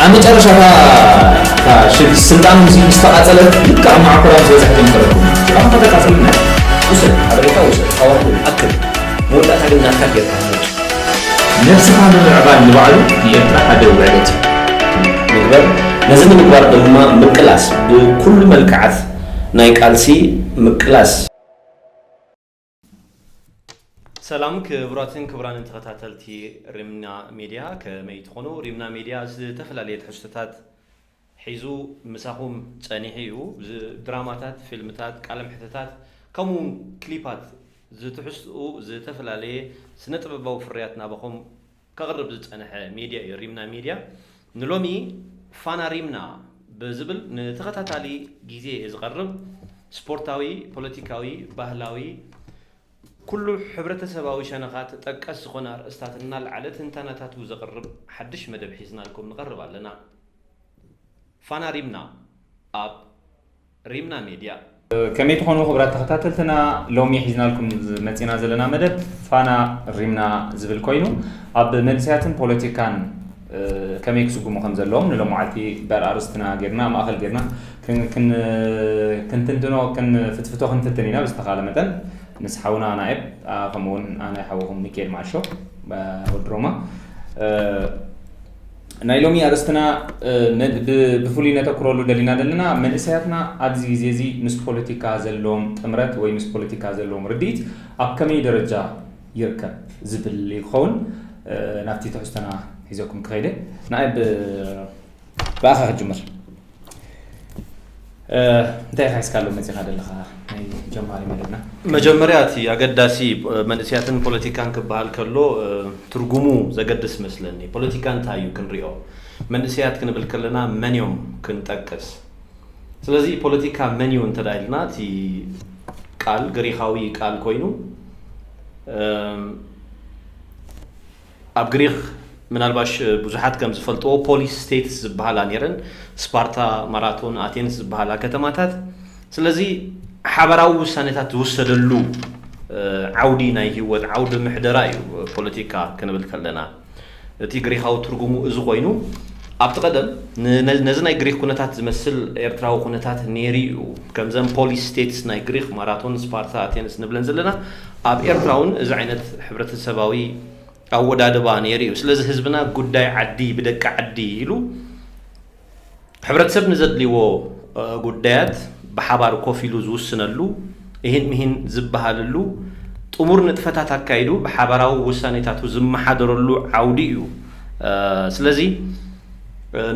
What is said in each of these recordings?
ኣብ መጨረሻ እታ ሽግ ስልጣን ምስ ምስተቓፀለት ልክዕ ኣብ መዓኮራ ምስ በፅሐት እዮም ተረክቡ ስልጣን ከተቃፅልና ውሰድ ሓበሬታ ውሰድ ኣዋህዶ ኣክል መወዳእታ ግን ናትካ ጌርካ ትመርፅ ነብስኻ ምምዕባል ንባዕሉ ንኤርትራ ሓደ ውዕለት እዩ ምግበር ነዚ ንምግባር ድማ ምቅላስ ብኩሉ መልክዓት ናይ ቃልሲ ምቅላስ ሰላም ክቡራትን ክቡራንን ተኸታተልቲ ሪምና ሚድያ ከመይ ትኾኑ? ሪምና ሚድያ ዝተፈላለየ ትሕዝቶታት ሒዙ ምሳኹም ጸኒሑ እዩ። ድራማታት፣ ፊልምታት፣ ቃለ መሕተታት ከምኡ ክሊፓት ዝትሕዝትኡ ዝተፈላለየ ስነ ጥበባዊ ፍርያት ናባኹም ከቕርብ ዝጸንሐ ሜድያ እዩ ሪምና ሜድያ ንሎሚ ፋና ሪምና ብዝብል ንተኸታታሊ ግዜ ዝቐርብ ስፖርታዊ ፖለቲካዊ ባህላዊ ኩሉ ሕብረተሰባዊ ሸነኻት ጠቀስ ዝኾነ ኣርእስታት እናልዓለ ትንታነታቱ ዘቕርብ ሓድሽ መደብ ሒዝናልኩም ንቐርብ ኣለና ፋና ሪምና ኣብ ሪምና ሜድያ። ከመይ ትኾኑ ክብራት ተኸታተልትና ሎሚ ሒዝናልኩም መጺና ዘለና መደብ ፋና ሪምና ዝብል ኮይኑ ኣብ መንእሰያትን ፖለቲካን ከመይ ክስጉሙ ከም ዘለዎም ንሎማዓልቲ በር ኣርስትና ጌርና ማእኸል ጌርና ክንትንትኖ ክንፍትፍቶ ክንፍትን ኢና ብዝተኻለ መጠን ምስ ሓውና ናኤብ ከምኡውን ኣነ ሓውኹም ሚካኤል ማዓሾ ወድሮማ ናይ ሎሚ ኣርእስትና ብፍሉይ ነተኩረሉ ደሊና ዘለና መንእሰያትና ኣብዚ ግዜ እዚ ምስ ፖለቲካ ዘለዎም ጥምረት ወይ ምስ ፖለቲካ ዘለዎም ርድኢት ኣብ ከመይ ደረጃ ይርከብ ዝብል እዩ ክኸውን ናብቲ ትሕዝቶና ሒዘኩም ክኸይደ ንኣይ ብኣኻ ክጅምር እንታይ ኢኻ ሒዝካሉ መፂኻ ዘለኻ ናይ ጀማሪ መደብና መጀመርያ እቲ ኣገዳሲ መንእስያትን ፖለቲካን ክበሃል ከሎ ትርጉሙ ዘገድስ መስለኒ ፖለቲካ እንታይ እዩ ክንሪኦ መንእስያት ክንብል ከለና መን እዮም ክንጠቅስ ስለዚ ፖለቲካ መን እዩ እንተ ኢልና እቲ ቃል ግሪኻዊ ቃል ኮይኑ ኣብ ግሪኽ ምናልባሽ ብዙሓት ከም ዝፈልጥዎ ፖሊስ ስቴትስ ዝበሃላ ነይረን፣ ስፓርታ፣ ማራቶን፣ ኣቴንስ ዝበሃላ ከተማታት። ስለዚ ሓባራዊ ውሳኔታት ዝውሰደሉ ዓውዲ ናይ ህይወት ዓውዲ ምሕደራ እዩ ፖለቲካ ክንብል ከለና። እቲ ግሪኻዊ ትርጉሙ እዚ ኮይኑ ኣብቲ ቀደም ነዚ ናይ ግሪኽ ኩነታት ዝመስል ኤርትራዊ ኩነታት ነይሩ እዩ። ከምዘን ፖሊስ ስቴትስ ናይ ግሪኽ ማራቶን፣ ስፓርታ፣ ኣቴንስ ንብለን ዘለና ኣብ ኤርትራ ውን እዚ ዓይነት ሕብረተሰባዊ ኣወዳድባ ነይሩ እዩ። ስለዚ ህዝብና ጉዳይ ዓዲ ብደቂ ዓዲ ኢሉ ሕብረተሰብ ንዘድልይዎ ጉዳያት ብሓባር ኮፍ ኢሉ ዝውስነሉ፣ እሂን ምሂን ዝበሃለሉ፣ ጥሙር ንጥፈታት ኣካይዱ ብሓባራዊ ውሳኔታቱ ዝመሓደረሉ ዓውዲ እዩ። ስለዚ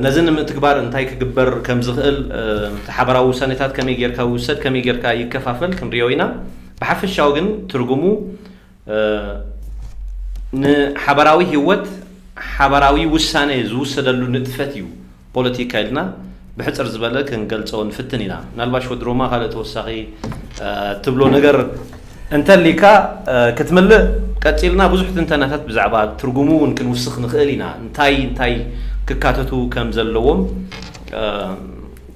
ነዚ ንምትግባር እንታይ ክግበር ከምዝኽእል፣ እቲ ሓባራዊ ውሳኔታት ከመይ ጌርካ ይውሰድ፣ ከመይ ጌርካ ይከፋፈል ክንሪኦ ኢና። ብሓፈሻዊ ግን ትርጉሙ ንሓበራዊ ህይወት ሓባራዊ ውሳነ ዝውሰደሉ ንጥፈት እዩ ፖለቲካ ኢልና ብሕጽር ዝበለ ክንገልጾ ንፍትን ኢና። ምናልባሽ ወዲ ሮማ ካልእ ተወሳኺ ትብሎ ነገር እንተሊካ ክትምልእ ቀጺልና ብዙሕ ትንተናታት ብዛዕባ ትርጉሙ እውን ክንውስኽ ንኽእል ኢና እንታይ እንታይ ክካተቱ ከም ዘለዎም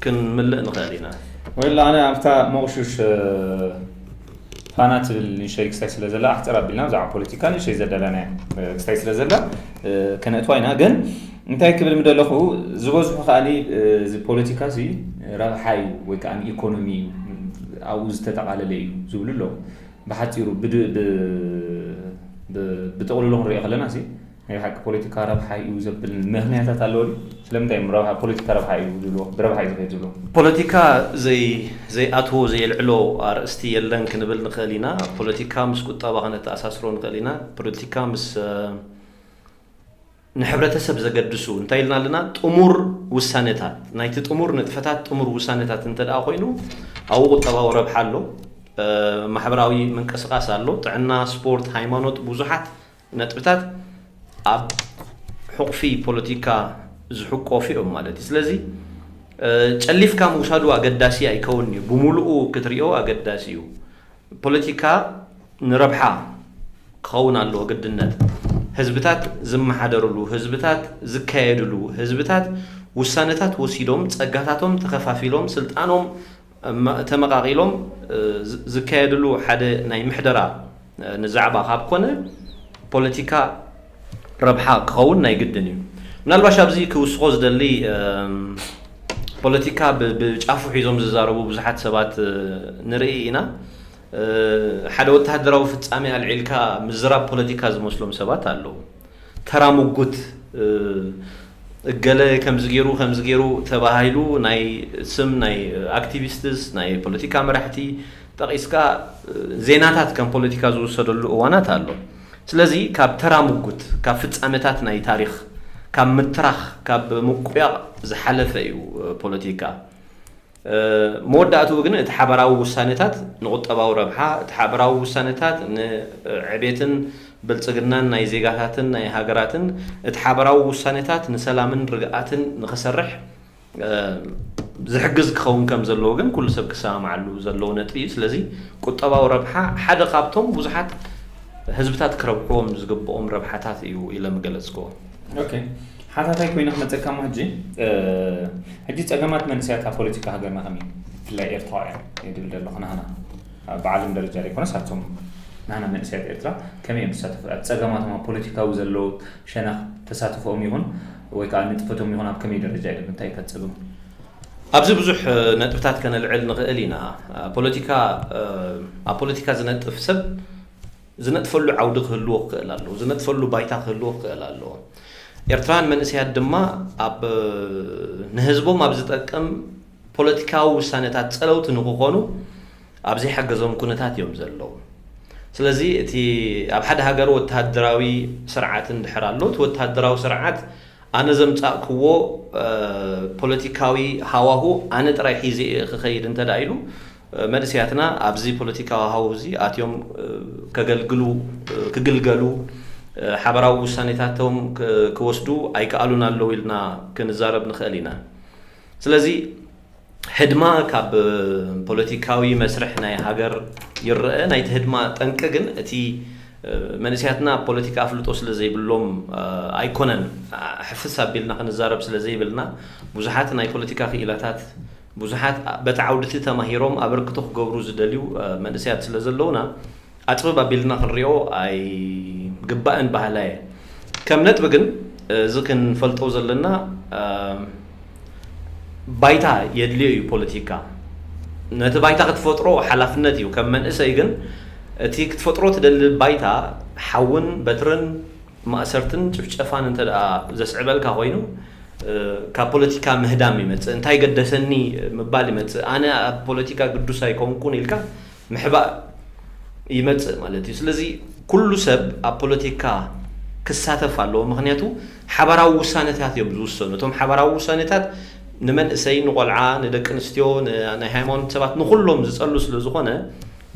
ክንምልእ ንኸእል ኢና። Well ኣነ ኣብታ ሞቕሹሽ ፋና ትብል ንእሸይ ክስታይ ስለ ዘላ ኣሕጽር ኣቢልና ብዛዕባ ፖለቲካ ንእሸይ ዘዳላናያ ክስታይ ስለ ዘላ ከነእትዋ ኢና ግን እንታይ ክብል ምደለኹ ዝበዝሑ ከኣሊ እዚ ፖለቲካ እዚ ረብሓ እዩ ወይ ከዓ ኢኮኖሚ እዩ ኣብኡ ዝተጠቓለለ እዩ ዝብሉ ኣለዉ ብሓፂሩ ብጥቕልሉ ክንሪኦ ከለና ናይ ብሓቂ ፖለቲካ ረብሓ እዩ ዘብል ምኽንያታት ኣለዎ ድዩ? ስለምንታይ እዮም ረብሓ ፖለቲካ ረብሓ እዩ ዝብልዎ? ብረብሓ እዩ ዝኸይድ ዝብልዎ? ፖለቲካ ዘይ ዘይኣትዎ ዘየልዕሎ ኣርእስቲ የለን ክንብል ንኽእል ኢና። ፖለቲካ ምስ ቁጠባ ከነተኣሳስሮ ንኽእል ኢና። ፖለቲካ ምስ ንሕብረተሰብ ዘገድሱ እንታይ ኢልና ኣለና ጥሙር ውሳነታት ናይቲ ጥሙር ንጥፈታት ጥሙር ውሳነታት እንተ ደኣ ኮይኑ ኣብኡ ቁጠባዊ ረብሓ ኣሎ፣ ማሕበራዊ ምንቅስቓስ ኣሎ፣ ጥዕና፣ ስፖርት፣ ሃይማኖት ብዙሓት ነጥብታት ኣብ ሑቕፊ ፖለቲካ ዝሕቆፉ እዮም ማለት እዩ። ስለዚ ጨሊፍካ ምውሳዱ ኣገዳሲ ኣይከውንን እዩ። ብምሉኡ ክትሪኦ ኣገዳሲ እዩ። ፖለቲካ ንረብሓ ክኸውን ኣለዎ ግድነት። ህዝብታት ዝመሓደርሉ፣ ህዝብታት ዝካየድሉ፣ ህዝብታት ውሳነታት ወሲዶም ጸጋታቶም ተኸፋፊሎም ስልጣኖም ተመቓቒሎም ዝካየድሉ ሓደ ናይ ምሕደራ ንዛዕባ ካብ ኮነ ፖለቲካ ረብሓ ክኸውን ናይ ግድን እዩ። ምናልባሽ ኣብዚ ክውስኾ ዝደሊ ፖለቲካ ብጫፉ ሒዞም ዝዛረቡ ብዙሓት ሰባት ንርኢ ኢና። ሓደ ወተሃደራዊ ፍጻሜ ኣልዒልካ ምዝራብ ፖለቲካ ዝመስሎም ሰባት ኣለዉ። ተራ ሙጉት እገለ ከምዚ ጌሩ ከምዚ ጌሩ ተባሂሉ ናይ ስም ናይ ኣክቲቪስትስ ናይ ፖለቲካ መራሕቲ ጠቂስካ ዜናታት ከም ፖለቲካ ዝውሰደሉ እዋናት ኣሎ ስለዚ ካብ ተራ ሙጉት ካብ ፍጻሜታት ናይ ታሪኽ ካብ ምትራኽ ካብ ምቁያቅ ዝሓለፈ እዩ ፖለቲካ። መወዳእትኡ ግን እቲ ሓባራዊ ውሳነታት ንቁጠባዊ ረብሓ፣ እቲ ሓባራዊ ውሳነታት ንዕቤትን ብልጽግናን ናይ ዜጋታትን ናይ ሃገራትን፣ እቲ ሓባራዊ ውሳነታት ንሰላምን ርግኣትን ንክሰርሕ ዝሕግዝ ክኸውን ከም ዘለዎ ግን ኩሉ ሰብ ክሰማማዓሉ ዘለዎ ነጥቢ እዩ። ስለዚ ቁጠባዊ ረብሓ ሓደ ካብቶም ብዙሓት ህዝብታት ክረብሕዎም ዝግብኦም ረብሓታት እዩ ኢለ ምገለጽክዎ። ኦኬ ሓታታይ ኮይኑ ክመፀካ ሞ ሕጂ ሕጂ ፀገማት መንእሰያት ኣብ ፖለቲካ ሃገርና ከም እዩ ብፍላይ ኤርትራውያን ድብል ደለኹ ናህና ብዓለም ደረጃ ዘይኮነስ ኣቶም ናህና መንእሰያት ኤርትራ ከመይ እዮም ተሳተፉ ኣብ ፀገማቶም ኣብ ፖለቲካዊ ዘለዎ ሸነኽ ተሳትፎኦም ይኹን ወይ ከዓ ንጥፈቶም ይኹን ኣብ ከመይ ደረጃ እዮም እንታይ እዩ ከፀግሙ ኣብዚ ብዙሕ ነጥብታት ከነልዕል ንኽእል ኢና ፖለቲካ ኣብ ፖለቲካ ዝነጥፍ ሰብ ዝነጥፈሉ ዓውዲ ክህልዎ ክኽእል ኣለዎ። ዝነጥፈሉ ባይታ ክህልዎ ክኽእል ኣለዎ። ኤርትራውያን መንእሰያት ድማ ኣብ ንህዝቦም ኣብ ዝጠቅም ፖለቲካዊ ውሳነታት ጸለውቲ ንኽኾኑ ኣብ ዘይሓገዞም ኩነታት እዮም ዘለዉ። ስለዚ እቲ ኣብ ሓደ ሃገር ወተሃደራዊ ስርዓት እንድሕር ኣሎ እቲ ወተሃደራዊ ስርዓት ኣነ ዘምጻእክዎ ፖለቲካዊ ሃዋሁ ኣነ ጥራይ ሒዘ እየ ክኸይድ እንተድኣ ኢሉ መንእሰያትና ኣብዚ ፖለቲካዊ ሃውሁዚ ኣትዮም ከገልግሉ፣ ክግልገሉ፣ ሓበራዊ ውሳኔታቶም ክወስዱ ኣይከኣሉን ኣለዉ ኢልና ክንዛረብ ንኸእል ኢና። ስለዚ ህድማ ካብ ፖለቲካዊ መስርሕ ናይ ሃገር ይረኣ። ናይቲ ህድማ ጠንቂ ግን እቲ መንእሰያትና ኣብ ፖለቲካ ኣፍልጦ ስለ ዘይብሎም ኣይኮነን። ሕፍስ ኣቢልና ክንዛረብ ስለ ዘይብልና ብዙሓት ናይ ፖለቲካ ክኢላታት፣ ብዙሓት በቲ ዓውዲ'ቲ ተማሂሮም ኣበርክቶ ክገብሩ ዝደልዩ መንእሰያት ስለ ዘለዉና፣ ኣጽብብ ኣቢልና ክንሪኦ ኣይግባእን በሃላይ'የ። ከም ነጥቢ ግን እዚ ክንፈልጦ ዘለና ባይታ የድልዮ'ዩ ፖለቲካ ነቲ ባይታ ክትፈጥሮ ሓላፍነት'ዩ። ከም መንእሰይ ግን እቲ ክትፈጥሮ ትደሊ ባይታ ሓውን በትርን፣ ማእሰርትን ጭፍጨፋን እንተ ደኣ ዘስዕበልካ ኮይኑ ካብ ፖለቲካ ምህዳም ይመጽእ። እንታይ ገደሰኒ ምባል ይመጽእ። ኣነ ኣብ ፖለቲካ ግዱስ ኣይኮንኩን ኢልካ ምሕባእ ይመጽእ ማለት እዩ። ስለዚ ኩሉ ሰብ ኣብ ፖለቲካ ክሳተፍ ኣለዎ። ምኽንያቱ ሓባራዊ ውሳነታት እዮም ዝውሰኑ። እቶም ሓባራዊ ውሳነታት ንመንእሰይ፣ ንቆልዓ፣ ንደቂ ኣንስትዮ፣ ንናይ ሃይማኖት ሰባት ንኹሎም ዝጸሉ ስለ ዝኾነ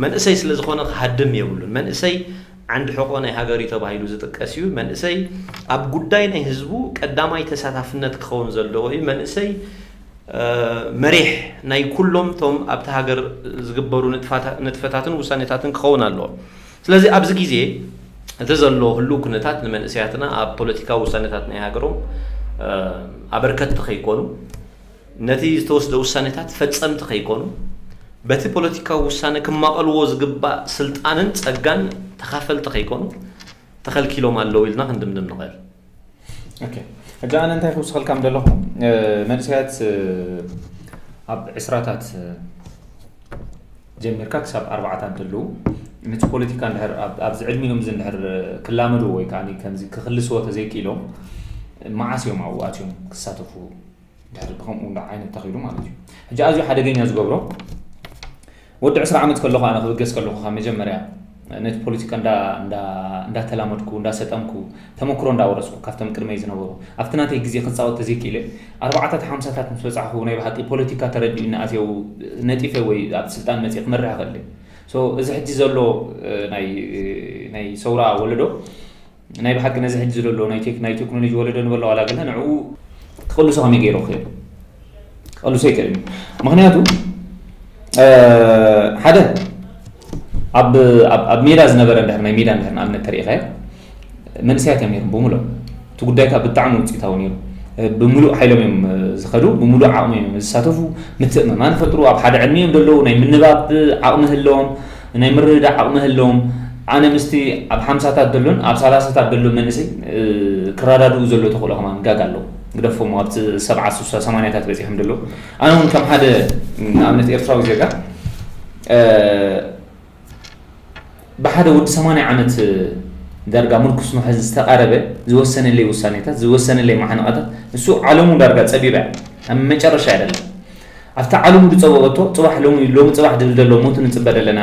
መንእሰይ ስለ ዝኾነ ክሃድም የብሉን። መንእሰይ ዓንዲ ሕቆ ናይ ሃገር እዩ ተባሂሉ ዝጥቀስ እዩ። መንእሰይ ኣብ ጉዳይ ናይ ህዝቡ ቀዳማይ ተሳታፍነት ክኸውን ዘለዎ እዩ። መንእሰይ መሪሕ ናይ ኩሎም እቶም ኣብታ ሃገር ዝግበሩ ንጥፈታትን ውሳኔታትን ክኸውን ኣለዎ። ስለዚ ኣብዚ ግዜ እቲ ዘሎ ህሉው ኩነታት ንመንእሰያትና ኣብ ፖለቲካዊ ውሳኔታት ናይ ሃገሮም ኣበርከትቲ ከይኮኑ፣ ነቲ ዝተወስደ ውሳኔታት ፈጸምቲ ከይኮኑ፣ በቲ ፖለቲካዊ ውሳነ ክማቐልዎ ዝግባእ ስልጣንን ጸጋን ተኻፈልቲ ከይኮኑ ተኸልኪሎም ኣለዉ ኢልና ክንድምድም ንኸእል። ኦኬ ሕጂ ኣነ እንታይ ክውስኸልካ ምደለኹ መንእሰያት ኣብ ዕስራታት ጀሚርካ ክሳብ ኣርባዓታት እንተለዉ ነቲ ፖለቲካ እንድሕር ኣብዚ ዕድሚኦም እዚ እንድሕር ክላመድዎ ወይ ከዓ ከምዚ ክክልስዎ ተዘይክኢሎም መዓስ እዮም ኣብኡ ኣትዮም ክሳተፉ ድሕሪ ከምኡ ዓይነት ተኺሉ ማለት እዩ ሕጂ ኣዝዩ ሓደገኛ ዝገብሮ ወዲ ዕስራ ዓመት ከለኹ ኣነ ክብገስ ከለኹ ካብ መጀመርያ ነቲ ፖለቲካ እንዳተላመድኩ እንዳሰጠምኩ ተመክሮ እንዳወረስኩ ካብቶም ቅድመይ ዝነበሩ ኣብቲ ናተይ ግዜ ክፃወት ተዘይክኢለ ኣርባዕታት ሓምሳታት ምስ በፃሕኩ ናይ ብሓቂ ፖለቲካ ተረዲኡኒ ኣትየው ነጢፈ ወይ ኣብ ስልጣን መፅ ክመርሕ ይኽእል እዚ ሕጂ ዘሎ ናይ ሰውራ ወለዶ ናይ ብሓቂ ነዚ ሕጂ ዘሎ ናይ ቴክ ናይ ቴክኖሎጂ ወለዶ ንበሎ ዋላ ገለ ንዕኡ ክቕልሶ ከመይ ገይሩ ክኽእል ክቕልሶ ይክእል እዩ ምክንያቱ ሓደ ኣብ ኣብ ሜዳ ዝነበረ እንድሕር ናይ ሜዳ እንድሕር ንኣብነት ተሪኢኻዮ መንእሰያት እዮም ነይሮም ብምሉእ እቲ ጉዳይካ ብጣዕሚ ውፅኢታዊ ነይሩ ብምሉእ ሓይሎም እዮም ዝኸዱ ብምሉእ ዓቕሚ እዮም ዝሳተፉ ምትእምማን ፈጥሩ ኣብ ሓደ ዕድሚ እዮም ዘለዉ ናይ ምንባብ ዓቕሚ ህለዎም ናይ ምርድዳእ ዓቕሚ ህለዎም ኣነ ምስቲ ኣብ ሓምሳታት ደሎን ኣብ ሳላሳታት ደሎ መንእሰይ ክራዳድኡ ዘሎ ተኽእሎ ከማን ጋጋ ኣሎ ግደፎ እሞ ኣብቲ ሰብዓ ሱሳ ሰማንያታት በጺሖም ደሎ ኣነ እውን ከም ሓደ ንኣብነት ኤርትራዊ ዜጋ ብሓደ ወዲ ሰማንያ ዓመት ዳርጋ ምርኩስ መሐዚ ዝተቓረበ ዝወሰነለይ ውሳኔታት ዝወሰነለይ ማሕንቓታት ንሱ ዓለሙ ዳርጋ ጸቢባ እያ ኣብ መጨረሻ እያ ደላ ኣብቲ ዓለሙ ድጸበበቶ ጽባሕ ሎሚ ሎሚ ጽባሕ ድብል ደሎ ሞቱ ንጽበ ደለና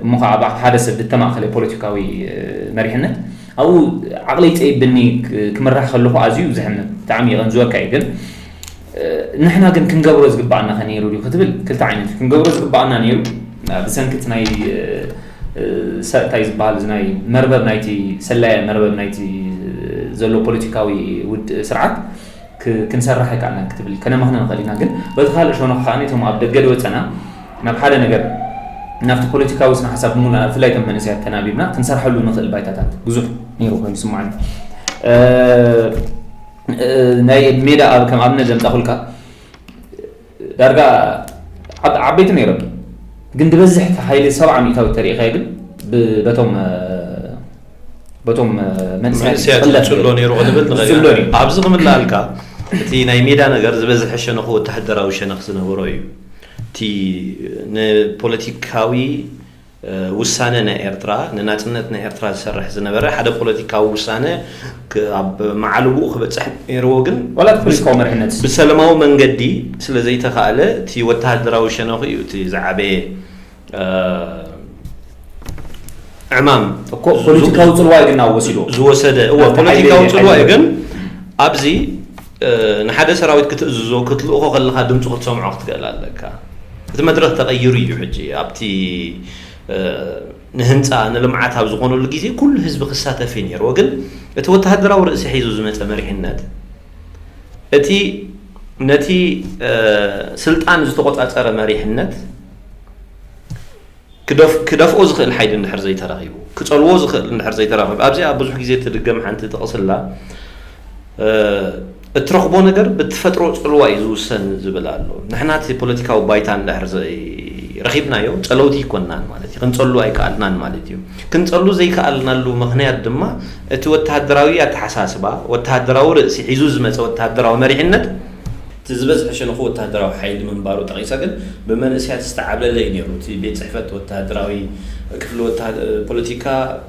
እሞ ከኣ ኣብ ሓደ ሰብ ድተማእከለ ፖለቲካዊ መሪሕነት ኣብኡ ዓቕለይ ጸይብኒ ክምራሕ ከለኹ ኣዝዩ ዘሕምም ብጣዕሚ የቐንዝወካ እየ ግን ንሕና ግን ክንገብሮ ዝግብኣና ከ ነይሩ ድዩ ክትብል ክልተ ዓይነት እዩ ክንገብሮ ዝግብኣና ነይሩ ብሰንኪ እቲ ናይ እንታይ ዝበሃል እዚ ናይ መርበብ ናይቲ ሰላየ መርበብ ናይቲ ዘሎ ፖለቲካዊ ውድ ስርዓት ክንሰርሕ ኣይከኣልናን ክትብል ከነማኽነ ንኽእል ኢና። ግን በቲ ካልእ ሸነኹ ከኣ እቶም ኣብ ደገ ዝወጸና ናብ ሓደ ነገር ናብቲ ፖለቲካዊ ስነ ሓሳብ ብምሉእና ብፍላይ እቶም መንእሰያት ተናቢብና ክንሰርሐሉ ንኽእል ባይታታት ብዙሕ ነይሩ ኮይኑ ይስምዓኒ። ናይ ሜዳ ከም ኣብነት ዘምጻኹልካ ዳርጋ ዓብ ዓበይቲ ነይሮም ግን ድበዝሕ ሓይሊ ሰብዓ ሚእታዊት ተሪኢኻዮ ግን በቶም በቶም መንእሰያት ዝጽሎ ነይሩ ክንብል ንኽእል ኣብዚ ክምላልካ እቲ ናይ ሜዳ ነገር ዝበዝሐ ሸነኹ ወተሃደራዊ ሸነኽ ዝነበሮ እዩ እቲ ንፖለቲካዊ ውሳነ ናይ ኤርትራ፣ ንናጽነት ናይ ኤርትራ ዝሰርሕ ዝነበረ ሓደ ፖለቲካዊ ውሳነ ኣብ መዓልቦኡ ክበጽሕ ነይርዎ ግን ዋላ እቲ ፖለቲካዊ መሪሕነት። ብሰለማዊ መንገዲ ስለ ዘይተኻእለ እቲ ወተሃደራዊ ሸነኹ እዩ እቲ ዝዓበየ ዕማም እኮ ፖለቲካዊ ጽልዋ እዩ ግን ኣብ ወሲዱ። ዝወሰደ። እወ፣ ናብቲ ሓይሊ ፖለቲካዊ ጽልዋ እዩ ሓይሊ። ግን ኣብዚ ንሓደ ሰራዊት ክትእዝዞ፣ ክትልእኾ ከለኻ ድምጹ ክትሰምዖ ክትክእል ኣለካ። እቲ መድረኽ ተቐይሩ እዩ ሕጂ። ኣብቲ ንህንጻ፣ ንልምዓት ኣብ ዝኾነሉ ግዜ ኩሉ ህዝቢ ክሳተፍ እዩ ነይርዎ። ግን እቲ ወተሃደራዊ ርእሲ ሒዙ ዝመጸ መሪሕነት፣ እቲ ነቲ ስልጣን ዝተቖጻጸረ መሪሕነት፣ ክደፍኦ ዝኽእል ሓይሊ እንድሕር ዘይተረኺቡ፣ ክጸልዎ ዝኽእል እንድሕር ዘይተረኺቡ፣ ኣብዚኣ ብዙሕ ግዜ እትድገም ሓንቲ ጥቕሲ ኣላ፣ እትረኽቦ ነገር ብትፈጥሮ ጽልዋ እዩ ዝውሰን ዝብል ኣሎ። ንሕና እቲ ፖለቲካዊ ባይታ እንድሕር ዘይረኺብናዮ ጸለውቲ ኣይኮናን ማለት እዩ። ክንጸሉ ኣይከኣልናን ማለት እዩ። ክንጸሉ ዘይከኣልናሉ ምኽንያት ድማ እቲ ወተሃደራዊ ኣተሓሳስባ፣ ወተሃደራዊ ርእሲ ሒዙ ዝመጸ ወተሃደራዊ መሪሕነት፣ እቲ ዝበዝሐ ሸነኹ ወተሃደራዊ ሓይሊ ምንባሩ ጠቒሳ ግን ብመንእሰያት ዝተዓብለለ እዩ ነይሩ እቲ ቤት ጽሕፈት ወተሃደራዊ ክፍሊ ወተሃደ ፖለቲካ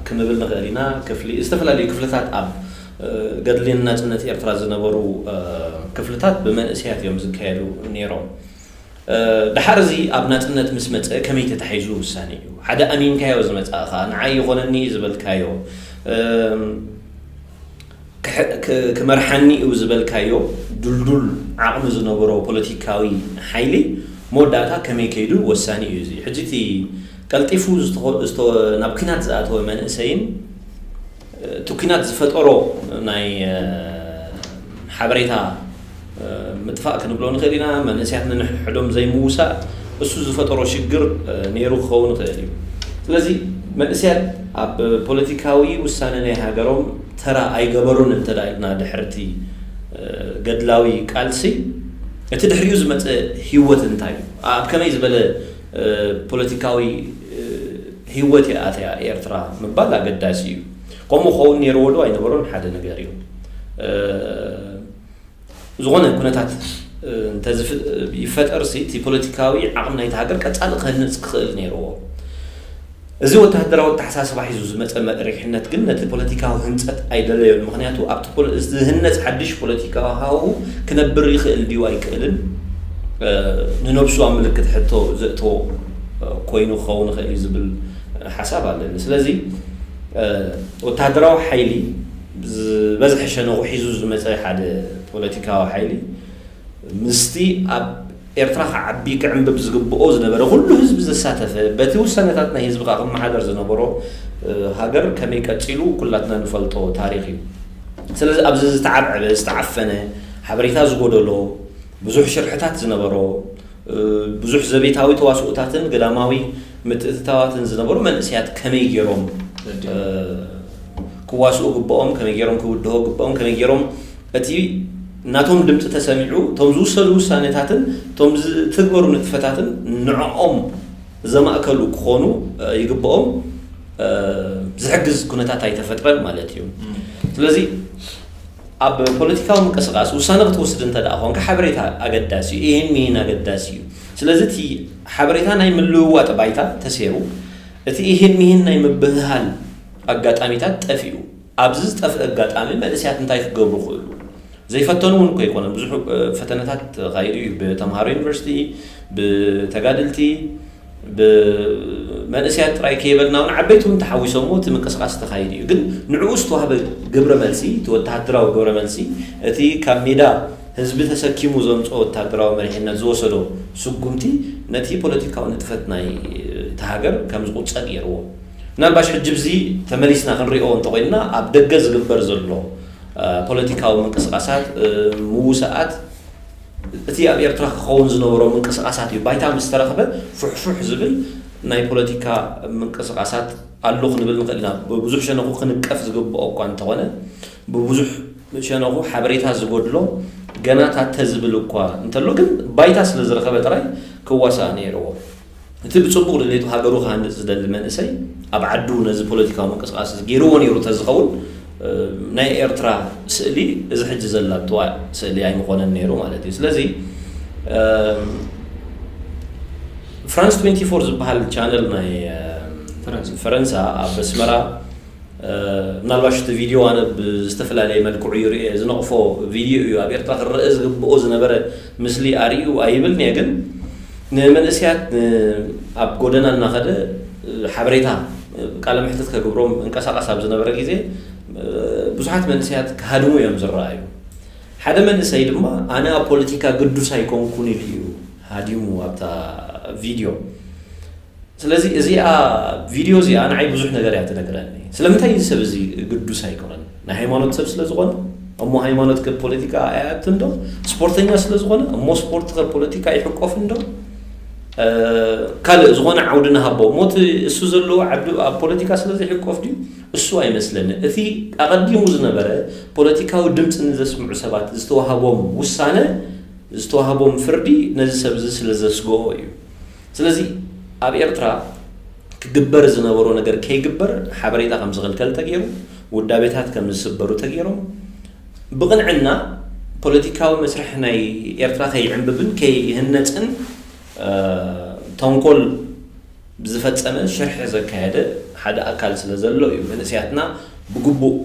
ክንብል ንኽእል ኢና ክፍሊ ዝተፈላለዩ ክፍልታት ኣብ ገድሊ ንናጽነት ኤርትራ ዝነበሩ ክፍልታት ብመንእሰያት እዮም ዝካየዱ ነይሮም ደሓር እዚ ኣብ ናጽነት ምስ መጸ ከመይ ተታሒዙ ውሳኔ እዩ ሓደ ኣሚንካዮ ዝመጻእኻ ንዓይ ይኾነኒ ዝበልካዮ ክመርሓኒ'ዩ ዝበልካዮ ድልዱል ዓቕሚ ዝነበሮ ፖለቲካዊ ሓይሊ መወዳእታ ከመይ ከይዱ ወሳኒ'ዩ። እዚ ሕጂ እቲ ቀልጢፉ ናብ ኲናት ዝኣተወ መንእሰይን እቲ ኲናት ዝፈጠሮ ናይ ሓበሬታ፣ ምጥፋእ ክንብሎ ንኽእል ኢና፣ መንእሰያት ነንሕድሕዶም ዘይምውሳእ እሱ ዝፈጠሮ ሽግር ነይሩ ክኸውን ይኽእል እዩ። ስለዚ መንእሰያት ኣብ ፖለቲካዊ ውሳነ ናይ ሃገሮም ተራ ኣይገበሩን እንተ ኢልና ድሕሪ እቲ ገድላዊ ቃልሲ እቲ ድሕሪኡ ዝመጸ ህይወት እንታይ እዩ? ኣብ ከመይ ዝበለ ፖለቲካዊ ህይወት እያ ኣትያ ኤርትራ ምባል ኣገዳሲ እዩ። ከምኡ ክኸውን ነይርዎዶ ኣይነበሮን ሓደ ነገር እዩ። ዝኾነ ኩነታት ይፈጠር እቲ ፖለቲካዊ ዓቕሚ ናይቲ ሃገር ቀፃሊ ክህንፅ ክኽእል ነይርዎ። እዚ ወተሃደራዊ ኣተሓሳስባ ሒዙ ዝመፀ መሪሕነት ግን ነቲ ፖለቲካዊ ህንፀት ኣይደለዮን። ምኽንያቱ ኣብቲ ዝህነፅ ሓድሽ ፖለቲካዊ ሃዋሁ ክነብር ይኽእል ድዩ ኣይክእልን ንነብሱ ኣብ ምልክት ሕቶ ዘእተዎ ኮይኑ ክኸውን ይኽእል እዩ ዝብል ሓሳብ ኣለኒ። ስለዚ ወተሃደራዊ ሓይሊ ዝበዝሐ ሸነኹ ሒዙ ዝመጸ ሓደ ፖለቲካዊ ሓይሊ፣ ምስቲ ኣብ ኤርትራ ክዓቢ ክዕምብብ ዝግብኦ ዝነበረ ኩሉ ህዝቢ ዘሳተፈ፣ በቲ ውሳነታት ናይ ህዝቢ ከኣ ክመሓደር ዝነበሮ ሃገር ከመይ ቀጺሉ ኩላትና ንፈልጦ ታሪኽ እዩ። ስለዚ ኣብዚ ዝተዓብዐበ፣ ዝተዓፈነ፣ ሓበሬታ ዝጎደሎ፣ ብዙሕ ሽርሕታት ዝነበሮ፣ ብዙሕ ዘቤታዊ ተዋስኦታትን ገዳማዊ ምትእትታዋትን ዝነበሩ መንእሰያት ከመይ ገይሮም ክዋስኡ ግብኦም፣ ከመይ ገይሮም ክውድሆ ግብኦም፣ ከመይ ገይሮም እቲ ናቶም ድምፂ ተሰሚዑ እቶም ዝውሰዱ ውሳኔታትን እቶም ዝትግበሩ ንጥፈታትን ንዕኦም ዘማእከሉ ክኾኑ ይግብኦም ዝሕግዝ ኩነታት ኣይተፈጥረን ማለት እዩ። ስለዚ ኣብ ፖለቲካዊ ምንቅስቃስ ውሳነ ክትወስድ እንተድኣ ኮንካ ሓበሬታ ኣገዳሲ እዩ። እሂን ምሂን ኣገዳሲ እዩ። ስለዚ እቲ ሓበሬታ ናይ ምልውዋጥ ባይታ ተሴሩ እቲ እሂን ምሂን ናይ ምብህሃል ኣጋጣሚታት ጠፊኡ። ኣብዚ ዝጠፍእ ኣጋጣሚ መንእሰያት እንታይ ክገብሩ ክእሉ? ዘይፈተኑ እውን እኮ ኣይኮነን። ብዙሕ ፈተነታት ተኻይዱ እዩ። ብተምሃሮ ዩኒቨርሲቲ፣ ብተጋድልቲ፣ ብመንእሰያት ጥራይ ከይበልና ውን ዓበይቲ ውን ተሓዊሶምዎ እቲ ምንቅስቃስ ተኻይዱ እዩ ግን ንዕኡ ዝተዋህበ ግብረ መልሲ እቲ ወተሃደራዊ ግብረ መልሲ እቲ ካብ ሜዳ ህዝቢ ተሰኪሙ ዘምጽኦ ወተሃደራዊ መሪሕነት ዝወሰዶ ስጉምቲ ነቲ ፖለቲካዊ ንጥፈት ናይ እታ ሃገር ከም ዝቁጸ ገይርዎ ምናልባሽ ሕጂ ብዚ ተመሊስና ክንሪኦ እንተኾይንና ኣብ ደገ ዝግበር ዘሎ ፖለቲካዊ ምንቅስቃሳት ምውሳኣት እቲ ኣብ ኤርትራ ክኸውን ዝነበሮ ምንቅስቓሳት እዩ። ባይታ ምስ ተረኽበ ፉሕፉሕ ዝብል ናይ ፖለቲካ ምንቅስቓሳት ኣሎ ክንብል ንኽእል ኢና። ብብዙሕ ሸነኹ ክንቀፍ ዝግብኦ እኳ እንተኾነ፣ ብብዙሕ ሸነኹ ሓበሬታ ዝጎድሎ ገና ታተ ዝብል እኳ እንተሎ ግን ባይታ ስለ ዝረኸበ ጥራይ ክዋሳእ ነይርዎ። እቲ ብጽቡቕ ድሌቱ ሃገሩ ክሃንጽ ዝደሊ መንእሰይ ኣብ ዓዱ ነዚ ፖለቲካዊ ምንቅስቓስ እዚ ገይርዎ ነይሩ ተዝኸውን ናይ ኤርትራ ስእሊ እዚ ሕጂ ዘላትዋ ስእሊ ኣይምኾነን ነይሩ ማለት እዩ። ስለዚ ፍራንስ 24 ዝበሃል ቻነል ናይ ፈረንሳ ኣብ ኣስመራ ምናልባሽ እቲ ቪድዮ ኣነ ብዝተፈላለየ መልክዑ ይርኤ ዝነቕፎ ቪድዮ እዩ ኣብ ኤርትራ ክረአ ዝግብኦ ዝነበረ ምስሊ ኣርእዩ ኣይብልን'የ ግን ንመንእሰያት ኣብ ጎደና እናኸደ ሓበሬታ ቃለ መሕትት ከግብሮም እንቀሳቐስ ኣብ ዝነበረ ግዜ ብዙሓት መንእሰያት ክሃድሙ እዮም ዝረኣዩ። ሓደ መንእሰይ ድማ ኣነ ኣብ ፖለቲካ ግዱስ ኣይኮንኩን ኢሉ እዩ ሃዲሙ ኣብታ ቪድዮ። ስለዚ እዚኣ ቪድዮ እዚኣ ንዓይ ብዙሕ ነገር እያ ትነግረኒ። ስለምንታይ እዚ ሰብ እዚ ግዱስ ኣይኮነን? ናይ ሃይማኖት ሰብ ስለ ዝኾነ? እሞ ሃይማኖት ከ ፖለቲካ ኣይኣትን ዶ? ስፖርተኛ ስለ ዝኾነ? እሞ ስፖርት ከ ፖለቲካ ኣይሕቆፍን ዶ? ካልእ ዝኾነ ዓውዲ ንሃቦ እሞ እቲ እሱ ዘለዎ ዓዲ ኣብ ፖለቲካ ስለ ዘይሕቆፍ ድዩ? እሱ ኣይመስለኒ። እቲ ኣቐዲሙ ዝነበረ ፖለቲካዊ ድምፂ ንዘስምዑ ሰባት ዝተዋህቦም ውሳነ ዝተዋህቦም ፍርዲ ነዚ ሰብ እዚ ስለ ዘስግኦ እዩ። ስለዚ ኣብ ኤርትራ ክግበር ዝነበሮ ነገር ከይግበር ሓበሬታ ከም ዝኽልከል ተገይሩ፣ ውዳቤታት ከም ዝስበሩ ተገይሮም፣ ብቕንዕና ፖለቲካዊ መስርሕ ናይ ኤርትራ ከይዕምብብን ከይህነጽን ተንኮል ዝፈጸመ ሽርሒ ዘካየደ ሓደ ኣካል ስለ ዘሎ እዩ መንእሰያትና ብግቡእ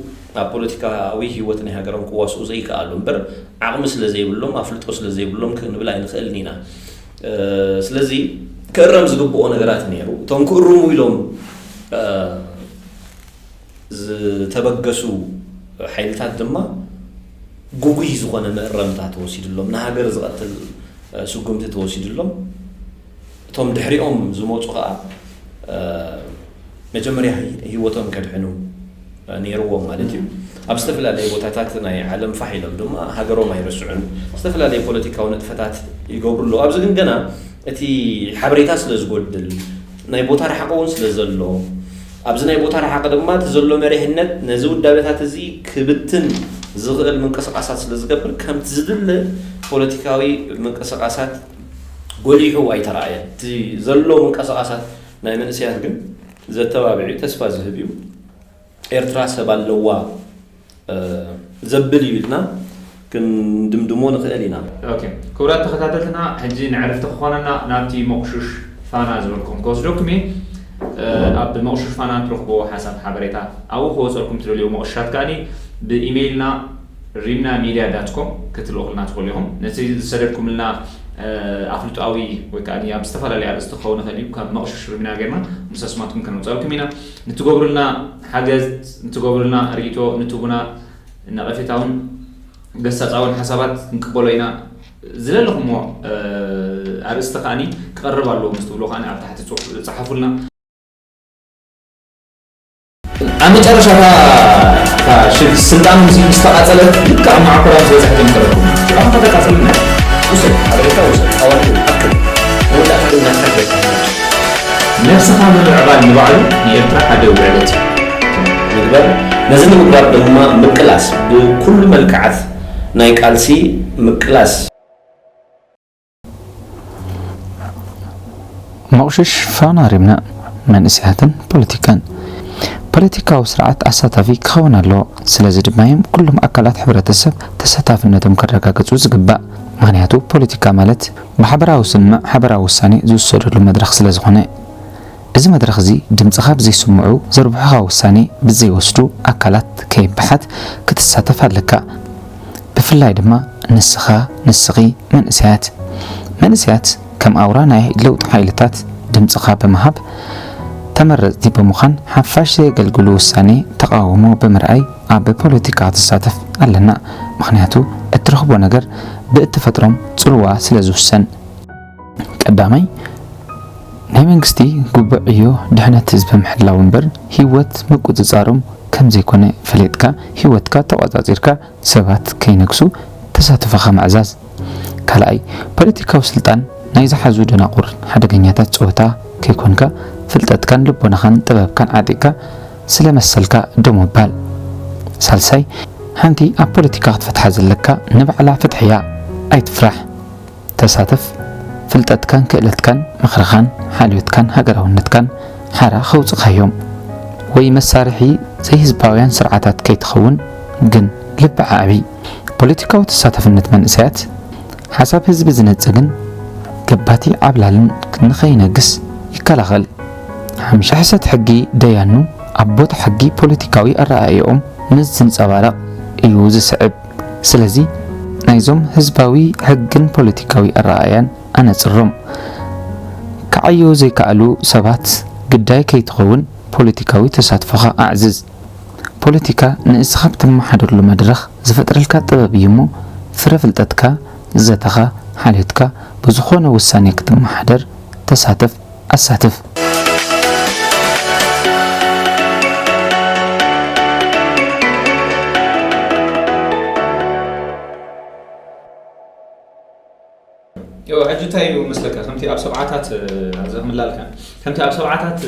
ኣብ ፖለቲካዊ ህይወት ናይ ሃገሮም ክዋስኡ ዘይከኣሉ እምበር ዓቕሚ ስለ ዘይብሎም ኣፍልጦ ስለ ዘይብሎም ክንብል ኣይንኽእልን ኢና። ስለዚ ክእረም ዝግብኦ ነገራት ነይሩ። እቶም ክእርሙ ኢሎም ዝተበገሱ ሓይልታት ድማ ጉጉይ ዝኾነ መእረምታ ተወሲድሎም ንሃገር ዝቐትል ስጉምቲ ተወሲድሎም እቶም ድሕሪኦም ዝመፁ ከዓ መጀመርያ ህይወቶም ከድሕኑ ነይርዎም ማለት እዩ። ኣብ ዝተፈላለየ ቦታታት ናይ ዓለም ፋሕ ኢሎም ድማ ሃገሮም ኣይርስዑን። ዝተፈላለየ ፖለቲካዊ ንጥፈታት ይገብሩ ኣለዉ። ኣብዚ ግን ገና እቲ ሓበሬታ ስለ ዝጎድል፣ ናይ ቦታ ርሓቕ እውን ስለ ዘሎ፣ ኣብዚ ናይ ቦታ ርሓቕ ድማ እቲ ዘሎ መሪሕነት ነዚ ውዳበታት እዚ ክብትን ዝኽእል ምንቅስቓሳት ስለ ዝገብር ከምቲ ዝድለ ፖለቲካዊ ምንቅስቓሳት ጎሊሑ ኣይተራእየን። እቲ ዘሎ ምንቅስቓሳት ናይ መንእሰያት ግን ዘተባብዕ እዩ፣ ተስፋ ዝህብ እዩ። ኤርትራ ሰብ ኣለዋ ዘብል እዩ ኢልና ክንድምድሞ ንኽእል ኢና። ኦኬ ክቡራት ተኸታተልትና ሕጂ ንዕርፍቲ ክኾነና ናብቲ ሞቕሹሽ ፋና ዝበልኩም ክወስደኩም እየ። ኣብ ሞቕሹሽ ፋና ትረኽብዎ ሓሳብ ሓበሬታ ኣብኡ ክወጸልኩም ትደልይዎ ሞቕሽሻት ከኣኒ ብኢሜይልና ሪምና ሚድያ ዳት ኮም ክትልእኹልና ትኽእሉ ኢኹም። ነቲ ዝሰደድኩምልና ኣፍልጦኣዊ ወይ ከኣኒ ኣብ ዝተፈላለየ ኣርእስቲ ክኸውን ይኽእል እዩ ካብ መቕሹሽ ሪምና ጌርና ምስ ኣስማትኩም ከነውጸልኩም ኢና። ንትገብሩልና ሓገዝ፣ ንትገብሩልና ሪኢቶ፣ ንትቡና ነቐፌታውን ገሳጻውን ሓሳባት ክንቅበሎ ኢና። ዝለለኹምዎ ኣርእስቲ ከኣ ክቐርብ ኣለዎ ምስ ትብሉ ከኣ ኣብ ታሕቲ ጸሓፉልና። ኣብ መጨረሻ እታ ስልጣን ሙሴ ምስ ተቓጸለት ልክዕ ኣብ መዓኮራ ምስ በጻሕቲ መኸረኩም ኣንተ ተቃጽልና ውሰድ ሓበሬታ ውሰድ ኣዋልድ ኣክል መወዳእታ ግን ናትካ ትበጽሕ ነብስኻ ምምዕባል ንባዕሉ ንኤርትራ ሓደ ውዕለት እዩ። ምግባር ነዚ ንምግባር ድማ ምቅላስ ብኩሉ መልክዓት ናይ ቃልሲ ምቅላስ። መቑሽሽ ፋና ሪምና መንእሰያትን ፖለቲካን። ፖለቲካዊ ስርዓት ኣሳታፊ ክኸውን ኣለዎ። ስለዚ ድማ እዮም ኩሎም ኣካላት ሕብረተሰብ ተሳታፍነቶም ከረጋግጹ ዝግባእ። ምኽንያቱ ፖለቲካ ማለት። ማሕበራዊ ስምምዕ ሓበራዊ ውሳኔ ዝውሰደሉ መድረኽ ስለዝኾነ። እዚ መድረኽ እዚ ድምጽኻ ብዘይስምዑ ዘርብሑኻ ውሳኔ ብዘይወስዱ ኣካላት ከይበሓት ክትሳተፍ ኣለካ። ብፍላይ ድማ ንስኻ፣ ንስኺ፣ መንእሰያት። መንእሰያት ከም ኣውራ ናይ ለውጢ ሓይልታት ድምጽኻ ብምሃብ ተመረጽቲ ብምዃን ሓፋሽ ዘየገልግሉ ውሳኔ ተቓውሞ ብምርኣይ፣ ኣብ ፖለቲካ ትሳተፍ ኣለና ምኽንያቱ እትረኽቦ ነገር ብእትፈጥሮም ጽልዋ ስለ ዝውሰን። ቀዳማይ፣ ናይ መንግስቲ ግቡእ ዕዮ ድሕነት ህዝቢ ምሕላው እምበር ህይወት ምቁጽጻሮም ከም ዘይኮነ ፈሊጥካ ህይወትካ ተቖጻጺርካ ሰባት ከይነግሱ ተሳትፎኻ ምዕዛዝ። ካልኣይ፣ ፖለቲካዊ ስልጣን ናይ ዝሓዙ ደናቑር ሓደገኛታት ጸወታ ከይኮንካ ፍልጠትካን ልቦናኻን ጥበብካን ዓጢቕካ ስለ መሰልካ ደው ምባል። ሳልሳይ፣ ሓንቲ ኣብ ፖለቲካ ክትፈትሓ ዘለካ ንባዕላ ፍትሒ እያ። ኣይትፍራሕ። ተሳተፍ። ፍልጠትካን ክእለትካን፣ ምኽርኻን ሓልዮትካን ሃገራውነትካን ሓራ ከውጽእካዮም። ወይ መሳርሒ ዘይህዝባውያን ስርዓታት ከይትኸውን ግን ልቢ ኣዕቢ። ፖለቲካዊ ተሳታፍነት መንእሰያት፣ ሓሳብ ህዝቢ ዝነጽግን ገባቲ ዓብላልን ንኸይነግስ ይከላኸል። ሕሰት ሕጊ ደያኑ ኣብ ቦታ ሕጊ ፖለቲካዊ ኣረኣእያኦም ምስ ዝንጸባረቕ እዩ ዝስዕብ። ስለዚ ናይዞም ህዝባዊ ሕግን ፖለቲካዊ ኣረኣእያን ኣነጽሮም ክዓዩ ዘይከኣሉ ሰባት ግዳይ ከይትኸውን ፖለቲካዊ ተሳትፎኻ ኣዕዝዝ። ፖለቲካ ንእስኻ እትመሓደረሉ መድረኽ ዝፈጥረልካ ጥበብ እዩሞ ፍረ ፍልጠትካ፣ ዘተኻ፣ ሓልዮትካ ብዝኾነ ውሳኔ ክትመሓደር ተሳተፍ። ኣሳትፍ። እወ ሕጂ እንታይ እዩ መስለካ ከምቲ ኣብ ሰብዓታት ኣብዚ ክምላልካ ከምቲ ኣብ ሰብዓታት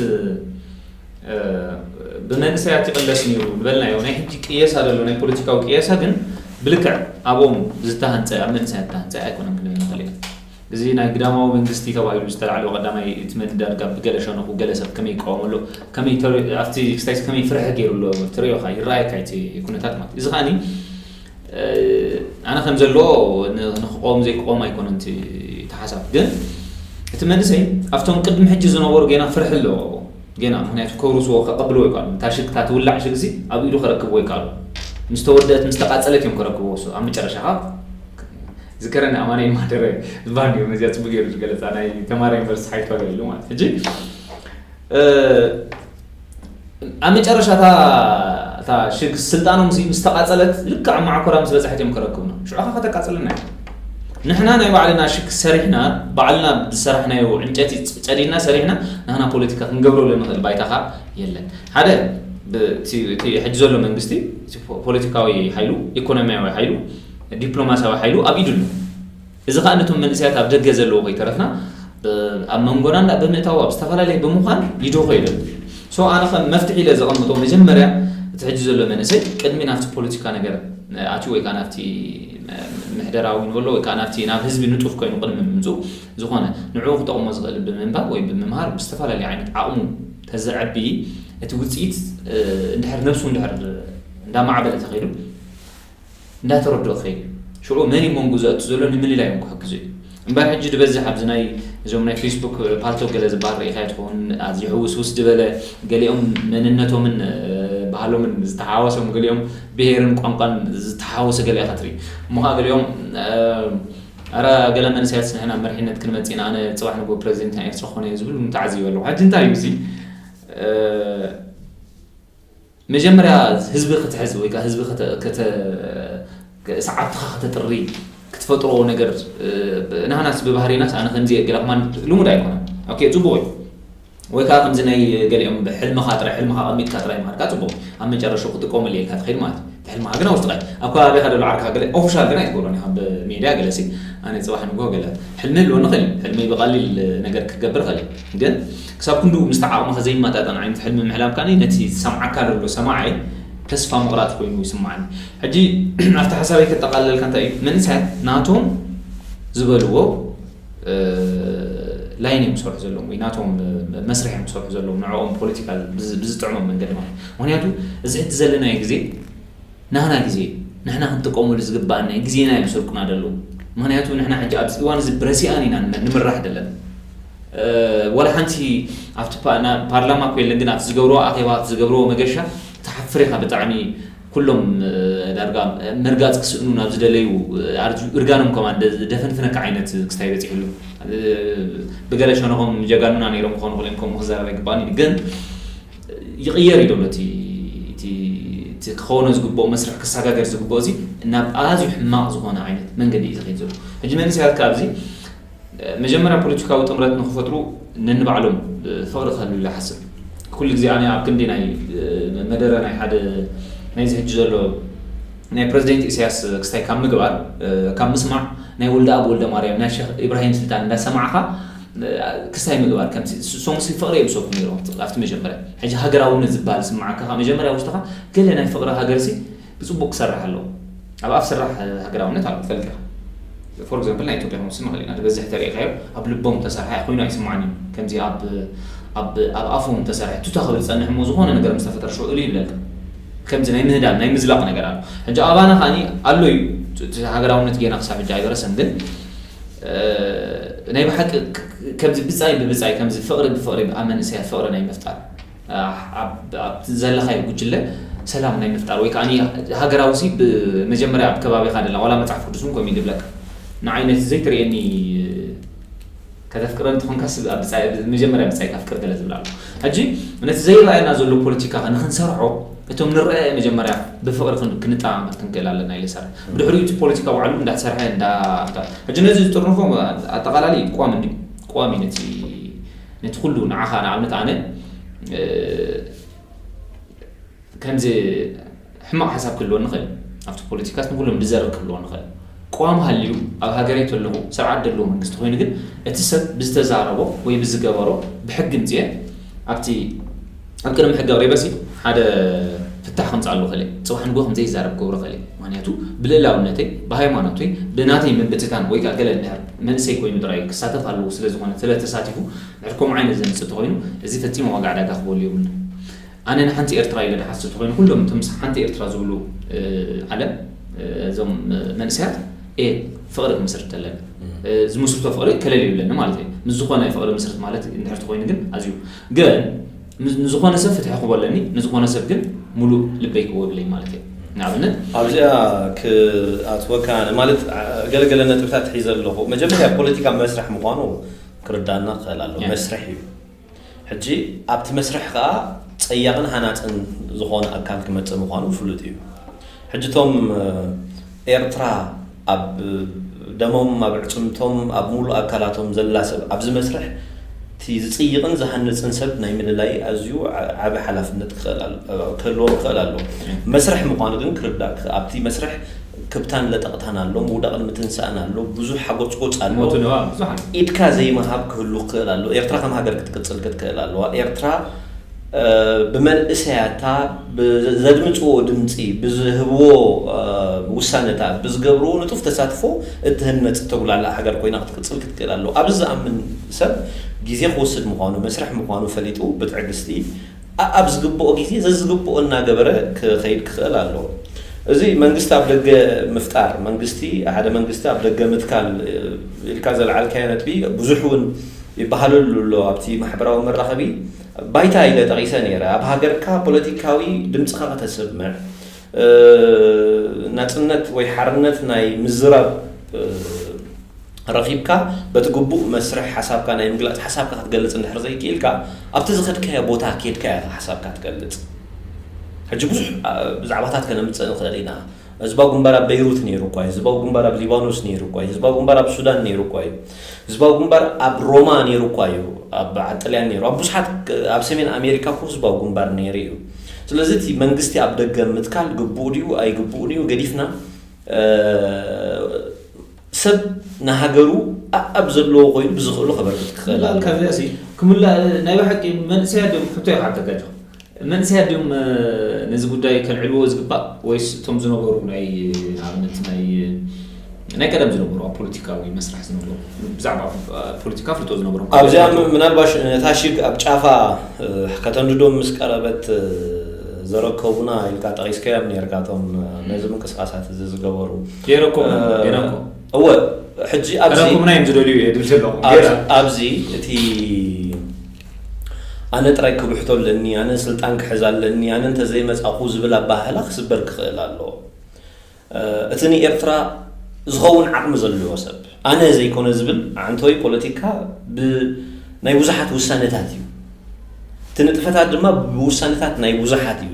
ብመንእሰያት ይቕለስ ነይሩ ንበልናዮ ናይ ሕጂ ቅየሳ ዘሎ ናይ ፖለቲካዊ ቅየሳ ግን ብልክዕ ኣብኦም ዝተሃንፀ ኣብ መንእሰያት ዝተሃንፀ ኣይኮነን ክንብል ንኽእል ኢና እዚ ናይ ግዳማዊ መንግስቲ ተባሂሉ ዝተላዕለ ቀዳማይ እቲ ምንዳድ ጋብ ብገለ ሸነኹ ገለ ሰብ ከመይ ይቃወም ኣሎ ከመይ ተር ኣብቲ ክስታይሲ ከመይ ፍርሒ ገይሩ ኣሎ ትርእዮኻ ይረኣየካ እቲ ኩነታት ማለት እዚ ከኣኒ ኣነ ከም ዘለዎ ንክቆም ዘይክቆም ኣይኮነን እቲ ተሓሳብ ግን እቲ መንእሰይ ኣብቶም ቅድሚ ሕጂ ዝነበሩ ጌና ፍርሒ ኣለዎ ኣብኡ ጌና ምክንያቱ ከውርስዎ ከቐብልዎ ይከኣሉ እታ ሽግ እታ ትውላዕ ሽግ እዚ ኣብ ኢዱ ከረክብዎ ይከኣሉ ምስ ተወደአት ምስ ተቃጸለት እዮም ከረክብዎ ኣብ መጨረሻ ዝከረኒ ኣማኒኤል ማህደረ ዝባሃል ገይሩ ነዚኣ ፅቡቅ ገይሩ ዝገለፃ ናይ ተማሃራይ ዩኒቨርስቲ ሓይቱ ኣገልግሎ ማለት ሕጂ ኣብ መጨረሻታ እታ ሽግ ስልጣኖም ምስ ተቃፀለት ልክዕ ኣብ ማዕኮራ ምስ በፅሐት እዮም ከረክቡና ሽዑካ ከተቃፅለና እዩ ንሕና ናይ ባዕልና ሽግ ሰሪሕና ባዕልና ዝሰራሕናዮ ዕንጨቲ ፀዲና ሰሪሕና ንህና ፖለቲካ ክንገብረሉ ንኽእል ባይታኻ የለን ሓደ ሕጂ ዘሎ መንግስቲ ፖለቲካዊ ሓይሉ ኢኮኖሚያዊ ሓይሉ ዲፕሎማስያዊ ሓይሉ ኣብ ኢዱ ኣሎ። እዚ ከኣ ነቶም መንእሰያት ኣብ ደገ ዘለዉ ከይተረፍና ኣብ መንጎና እንዳ ብምእታው ኣብ ዝተፈላለየ ብምዃን ይደኾ ኢሉ ኣሎ። ሶ ኣነ ከም መፍትሒ ኢለ ዘቐምጦ መጀመርያ እቲ ሕጂ ዘሎ መንእሰይ ቅድሚ ናብቲ ፖለቲካ ነገር ኣትዩ ወይ ከኣ ናብቲ ምሕደራዊ ንበሎ ወይ ከኣ ናብቲ ናብ ህዝቢ ንጡፍ ኮይኑ ቅድሚ ምምጽኡ ዝኾነ ንዕኡ ክጠቕሞ ዝኽእል ብምንባብ ወይ ብምምሃር ብዝተፈላለየ ዓይነት ዓቕሙ ተዘዕቢ እቲ ውጽኢት እንድሕር ነብሱ እንድሕር እንዳማዕበለ ተኸይዱ እንዳተረድኦ ከይዱ ሽዑ መን እዩ መንጉ ዘእቱ ዘሎ ንምልላይ እውን ክሕግዞ እዩ እምበር ሕጂ ድበዝሕ ኣብዚ ናይ እዞም ናይ ፌስቡክ ፓልቶ ገለ ዝበሃል ርኢኻዮ ትኸውን ኣዝዩ ሕውስውስ ድበለ ገሊኦም መንነቶምን ባህሎምን ዝተሓዋወሶም ገሊኦም ብሄርን ቋንቋን ዝተሓዋወሰ ገለ ኢኻ ትርኢ እሞ ከዓ ገሊኦም ኣረ ገለ መንእሰያት ንሕና መርሒነት ክንመጽእ ኢና ኣነ ጽባሕ ንግሆ ፕረዚደንት ናይ ኤርትራ ክኾነ እየ ዝብል ተዓዚበ ኣለኹ ሕጂ እንታይ እዩ እዚ መጀመርያ ህዝቢ ክትሕዝ ወይ ህዝቢ ሰዓብትኻ ከተጥሪ ክትፈጥሮ ነገር ናህናስ ብባህሪናስ ኣነ ከምዚ እየ ገለ ክማን ልሙድ ኣይኮነን ኦኬ ጽቡቕ እዩ ወይ ከዓ ከምዚ ናይ ገሊኦም ብሕልምኻ ጥራይ ሕልምኻ ቀሚጥካ ጥራይ ምሃድካ ጽቡቕ ኣብ መጨረሹ ክጥቀመሉ የልካ ትኸይድ ማለት እዩ ሕልምኻ ግን ኣብ ውሽጥኻ ኣብ ከባቢኻ ደሎ ዓርካ ገለ ኦፊሻል ግን ኣይትገብሮን ኢኻ ብሜድያ ገለ ሲ ኣነ ፅባሕ ንግሆ ገለ ሕልሚ ኣለዎ ንኽእል ሕልሚ ብቐሊል ነገር ክገብር ኽእል ግን ክሳብ ክንድኡ ምስቲ ዓቕምኻ ዘይመጣጠን ዓይነት ሕልሚ ምሕላም ከኣ ነቲ ዝሰምዓካ ዘሎ ሰማዒ ተስፋ ምቕራጽ ኮይኑ ይስምዓኒ። ሕጂ ኣብቲ ሓሳበይ ከጠቓልለልካ እንታይ እዩ መንእሰያት ናቶም ዝበልዎ ላይን እዮም ዝሰርሑ ዘለዎም ወይ ናቶም መስርሕ እዮም ዝሰርሑ ዘለዎም ንዕኦም ፖለቲካል ብዝጥዕሞም መንገዲ ማለት ምክንያቱ እዚ ሕጂ ዘለናዮ ግዜ ናህና ግዜ ንሕና ክንጥቀመሉ ዝግበኣና እዩ ግዜና እዮም ዝሰርቁና ደለዉ ምክንያቱ ንሕና ሕጂ ኣብዚ እዋን እዚ ብረሲኣን ኢና ንምራሕ ደለና ዋላ ሓንቲ ኣብቲ ፓርላማ እኮ የለን ግን ኣብቲ ዝገብርዎ ኣኼባ ኣብቲ ዝገብርዎ መገሻ ትሓፍር ኢኻ ብጣዕሚ ኩሎም ዳርጋ ምርጋጽ ክስእኑ ናብ ዝደለዩ እርጋኖም ከማ ደፈንፍነካ ዓይነት ክስታይ በጺሑ ኣሎ ብገለ ሸነኾም ጀጋኑና ነይሮም ክኾኑ ክልኦም ከምኡ ክዛረብ ኣይግባእን ግን ይቕየር እዩ ዘሎ እቲ እቲ እቲ ክኸውኖ ዝግብኦ መስርሕ ክሰጋገር ዝግብኦ እዚ ናብ ኣዝዩ ሕማቕ ዝኾነ ዓይነት መንገዲ እዩ ዝኸይድ ዘሎ ሕጂ መንእሰያት ከኣ ኣብዚ መጀመርያ ፖለቲካዊ ጥምረት ንክፈጥሩ ነንባዕሎም ፍቕሪ ክህሉ ኢለ ሓስብ ኩሉ ግዜ ኣነ ኣብ ክንዲ ናይ መደረ ናይ ሓደ ናይዚ ሕጂ ዘሎ ናይ ፕረዚደንት ኢሳያስ ክስታይ ካብ ምግባር ካብ ምስማዕ ናይ ወልደኣብ ወልደማርያም ናይ ሸኽ ኢብራሂም ስልጣን እንዳሰማዕኻ ክስታይ ምግባር ከምዚ ሶንግሲ ፍቅሪ የብሰኩ ኔሮም ኣብቲ መጀመርያ ሕጂ ሃገራውነት ዝብሃል ዝስምዓካ ካብ መጀመርያ ውሽጥካ ገለ ናይ ፍቅሪ ሃገርሲ ብጽቡቅ ክሰርሕ ኣለዎ ኣብ ኣፍ ስራሕ ሃገራውነት ኣሎ ትፈልጥ ኢካ ፎር ኤግዛምፕል ናይ ኢትዮጵያ ክንወስድ ንክእል ኢና ዝበዝሕ ተሪኢካዮ ኣብ ልቦም ተሰርሐ ኮይኑ ኣይስምዓን እዩ ከምዚ ኣብ ኣብ ኣብ ኣፎም ተሰርሐ ቱታ ክብል ዝጸንሕ እሞ ዝኾነ ነገር ምስ ተፈጠረ ሽዑ እልይ ይብለልካ ከምዚ ናይ ምህዳም ናይ ምዝላቅ ነገር ኣሎ ሕጂ ኣባና ከኣ ኣሎ እዩ ሃገራውነት ጌና ክሳብ ሕጂ ኣይበረሰን ግን ናይ ብሓቂ ከምዚ ብጻይ ብብጻይ ከምዚ ፍቕሪ ብፍቕሪ ኣብ መንእሰያት ፍቕሪ ናይ ምፍጣር ኣብቲ ዘለኻዮ ጉጅለ ሰላም ናይ ምፍጣር ወይ ከዓኒ ሃገራዊ ሲ ብመጀመርያ ኣብ ከባቢኻ ደላ ዋላ መጽሓፍ ቅዱስ እውን ከምኡ እዩ ድብለካ ንዓይ ነቲ ዘይትርእየኒ ከተፍቅረ እንተኾንካስ ኣብ ብጻይ መጀመርያ ብጻይካ ኣፍቅር ገለ ዝብል ኣሎ። ሕጂ ነቲ ዘይረኣየና ዘሎ ፖለቲካ ከ ንኽንሰርሖ እቶም ንረኣየ መጀመርያ ብፍቕሪ ክን ክንጠማመት ክንክእል ኣለና ኢለ እሰርሕ። ብድሕሪኡ እቲ ፖለቲካ ባዕሉ እንዳሰርሐ እንዳ እንዳ ሕጂ ነዚ ዝጥርንፎ ኣጠቓላሊ ቋሚ እንድዩ ቋሚ ነቲ ነቲ ኩሉ ንዓኻ ንኣብነት ኣነ ከምዚ ሕማቕ ሓሳብ ክህልወኒ ይኽእል እዩ፣ ኣብቲ ፖለቲካስ ንኹሎም ድዘርግ ክህልወኒ ይኽእል እዩ። ቅዋም ሃልዩ ኣብ ሃገረይ ተለኹ ስርዓት ደለዎ መንግስቲ ኮይኑ ግን እቲ ሰብ ብዝተዛረቦ ወይ ብዝገበሮ ብሕጊ ምጺኤ ኣብቲ ኣብ ቅድሚ ሕጊ ኣቕሪበሲ ሓደ ፍታሕ ከምጽኣሉ ይኽእል እየ። ጽባሕ ንግሆ ከምዘይዛረብ ክገብሮ ይኽእል እየ። ምክንያቱ ብልእላውነተይ፣ ብሃይማኖተይ፣ ብናተይ ምብትታን ወይ ከኣ ገለ እንድሕር መንእሰይ ኮይኑ ጥራይ እዩ ክሳተፍ ኣለዎ ስለዝኾነ ተለ ተሳቲፉ እንድሕር ከምኡ ዓይነት ዘምጽእ ተኾይኑ እዚ ፈጺመ ዋጋ ዕዳጋ ክህበሉ የብሉን። ኣነ ንሓንቲ ኤርትራ ኢለ ድሓስብ ተኮይነ ኩሎም እቶም ምስ ሓንቲ ኤርትራ ዝብሉ ዓለም እዞም መንእሰያት እየ ፍቅሪ ክምስርት ተለኒ ዝምስርቶ ፍቅሪ ከለል ይብለኒ ማለት እዩ ምስ ዝኮነ ፍቅሪ ምስርት ማለት እንድሕር ተኮይኑ ግን ኣዝዩ ግን ንዝኮነ ሰብ ፍትሒ ክቦ ኣለኒ ንዝኮነ ሰብ ግን ሙሉእ ልበይ ክቦ ይብለኝ ማለት እዩ ንኣብነት ኣብዚኣ ክኣትወካ ማለት ገለገለ ነጥብታት ሒዘ ኣለኹ መጀመርያ ፖለቲካ መስርሕ ምኳኑ ክርዳእና ክኽእል ኣለዎ መስርሕ እዩ ሕጂ ኣብቲ መስርሕ ከኣ ጸያቕን ሃናጽን ዝኾነ ኣካል ክመጽእ ምዃኑ ፍሉጥ እዩ። ሕጂ እቶም ኤርትራ ኣብ ደሞም ኣብ ኣዕጽምቶም ኣብ ምሉእ ኣካላቶም ዘላ ሰብ ኣብዚ መስርሕ እቲ ዝጽይቕን ዝሃንጽን ሰብ ናይ ምልላይ ኣዝዩ ዓቢ ሓላፍነት ክህልዎም ክኽእል ኣለዎ። መስርሕ ምዃኑ ግን ክርዳእ ኣብቲ መስርሕ ክብታን ለጠቕታን ኣሎ፣ ምውዳቕን ምትንሳእን ኣሎ፣ ብዙሕ ሓጎጽጎጽ ኣሎ፣ ሞትን እባ ብዙሓን። ኢድካ ዘይምሃብ ክህሉ ክኽእል ኣሎ፣ ኤርትራ ከም ሃገር ክትቅጽል ክትክእል ኣለዋ፣ ኤርትራ ብመንእሰያታ ብዘድምጽዎ ድምጺ፣ ብዝህብዎ ውሳነታት፣ ብዝገብርዎ ንጡፍ ተሳትፎ እትህነጽ እተጉላላእ ሃገር ኮይና ክትቅጽል ክትክእል ኣለዋ። ኣብዚ ዝኣምን ሰብ ግዜ ክወስድ ምዃኑ፣ መስርሕ ምዃኑ ፈሊጡ ብትዕግስቲ፣ ኣኣብ ዝግብኦ ግዜ ዘዝግብኦ እናገበረ ክኸይድ ክኽእል ኣለዎ። እዚ መንግስቲ ኣብ ደገ ምፍጣር፣ መንግስቲ ሓደ መንግስቲ ኣብ ደገ ምትካል ኢልካ ዘልዓልካዮ ነጥቢ ብዙሕ እውን ይበሃለሉ ኣሎ። ኣብቲ ማሕበራዊ መራኸቢ ባይታ ኢለ ጠቒሰ ነይረ። ኣብ ሃገርካ ፖለቲካዊ ድምጽኻ ከተስምዕ፣ ናጽነት ወይ ሓርነት ናይ ምዝራብ፣ ረኺብካ በቲ ግቡእ መስርሕ ሓሳብካ ናይ ምግላጽ ሓሳብካ ክትገልጽ እንድሕር ዘይክኢልካ ኣብቲ ዝኸድካዮ ቦታ ኬድካ ኢኻ ሓሳብካ ትገልጽ። ሕጂ ብዙሕ ብዛዕባታት ከነምጽእ ንኽእል ኢና። ህዝባዊ ግንባር ኣብ በይሩት ነይሩ እኳ እዩ። ህዝባዊ ግንባር ኣብ ሊባኖስ ነይሩ እኳ እዩ። ህዝባዊ ግንባር ኣብ ሱዳን ነይሩ እኳ እዩ። ህዝባዊ ግንባር ኣብ ሮማ ነይሩ እኳ እዩ። ኣብ በዓል ጥልያን ነይሩ። ኣብ ብዙሓት ኣብ ሰሜን ኣሜሪካ እኮ ህዝባዊ ግንባር ነይሩ እዩ። ስለዚ እቲ መንግስቲ ኣብ ደገ ምትካል ግቡእ ድዩ ኣይግቡእን እዩ ገዲፍና ሰብ ንሃገሩ ኣኣብ ዘለዎ ኮይኑ ብዝኽእሎ ከበርክት ክኽእል ኣለዎ። ካብዚኣሲ ክምላእ ናይ ብሓቂ መንእሰያት ድዮም ሕቶ ይሓተካ ጆክ መንእሰያት ድዮም ነዚ ጉዳይ ከልዕልዎ ዝግባእ ወይስ እቶም ዝነበሩ ናይ ንኣብነት ናይ ናይ ቀደም ዝነበሩ ኣብ ፖለቲካዊ መስርሕ ዝነበሩ ብዛዕባ ፖለቲካ ፍልጦ ዝነበሮም ኣብዚኣ ምናልባሽ ነታ ሽግ ኣብ ጫፋ ከተንድዶም ምስ ቀረበት ዘረከቡና ኢልካ ጠቒስከዮም ነርካ እቶም ነዚ ምንቅስቓሳት እዚ ዝገበሩ ገይረኩም ገይረኩም እወ ሕጂ ኣብዚ ረኩምና እዮም ዝደልዩ እየ ድል ዘለኹ ኣብዚ እቲ ኣነ ጥራይ ክብሕቶ ኣለኒ ኣነ ስልጣን ክሕዝ ኣለኒ ኣነ እንተዘይመፃኹ ዝብል ኣባህላ ክስበር ክኽእል ኣለዎ እቲ ንኤርትራ ዝኸውን ዓቕሚ ዘለዎ ሰብ ኣነ ዘይኮነ ዝብል ኣዕንቶይ ፖለቲካ ብ ናይ ብዙሓት ውሳነታት እዩ እቲ ንጥፈታት ድማ ብውሳነታት ናይ ብዙሓት እዩ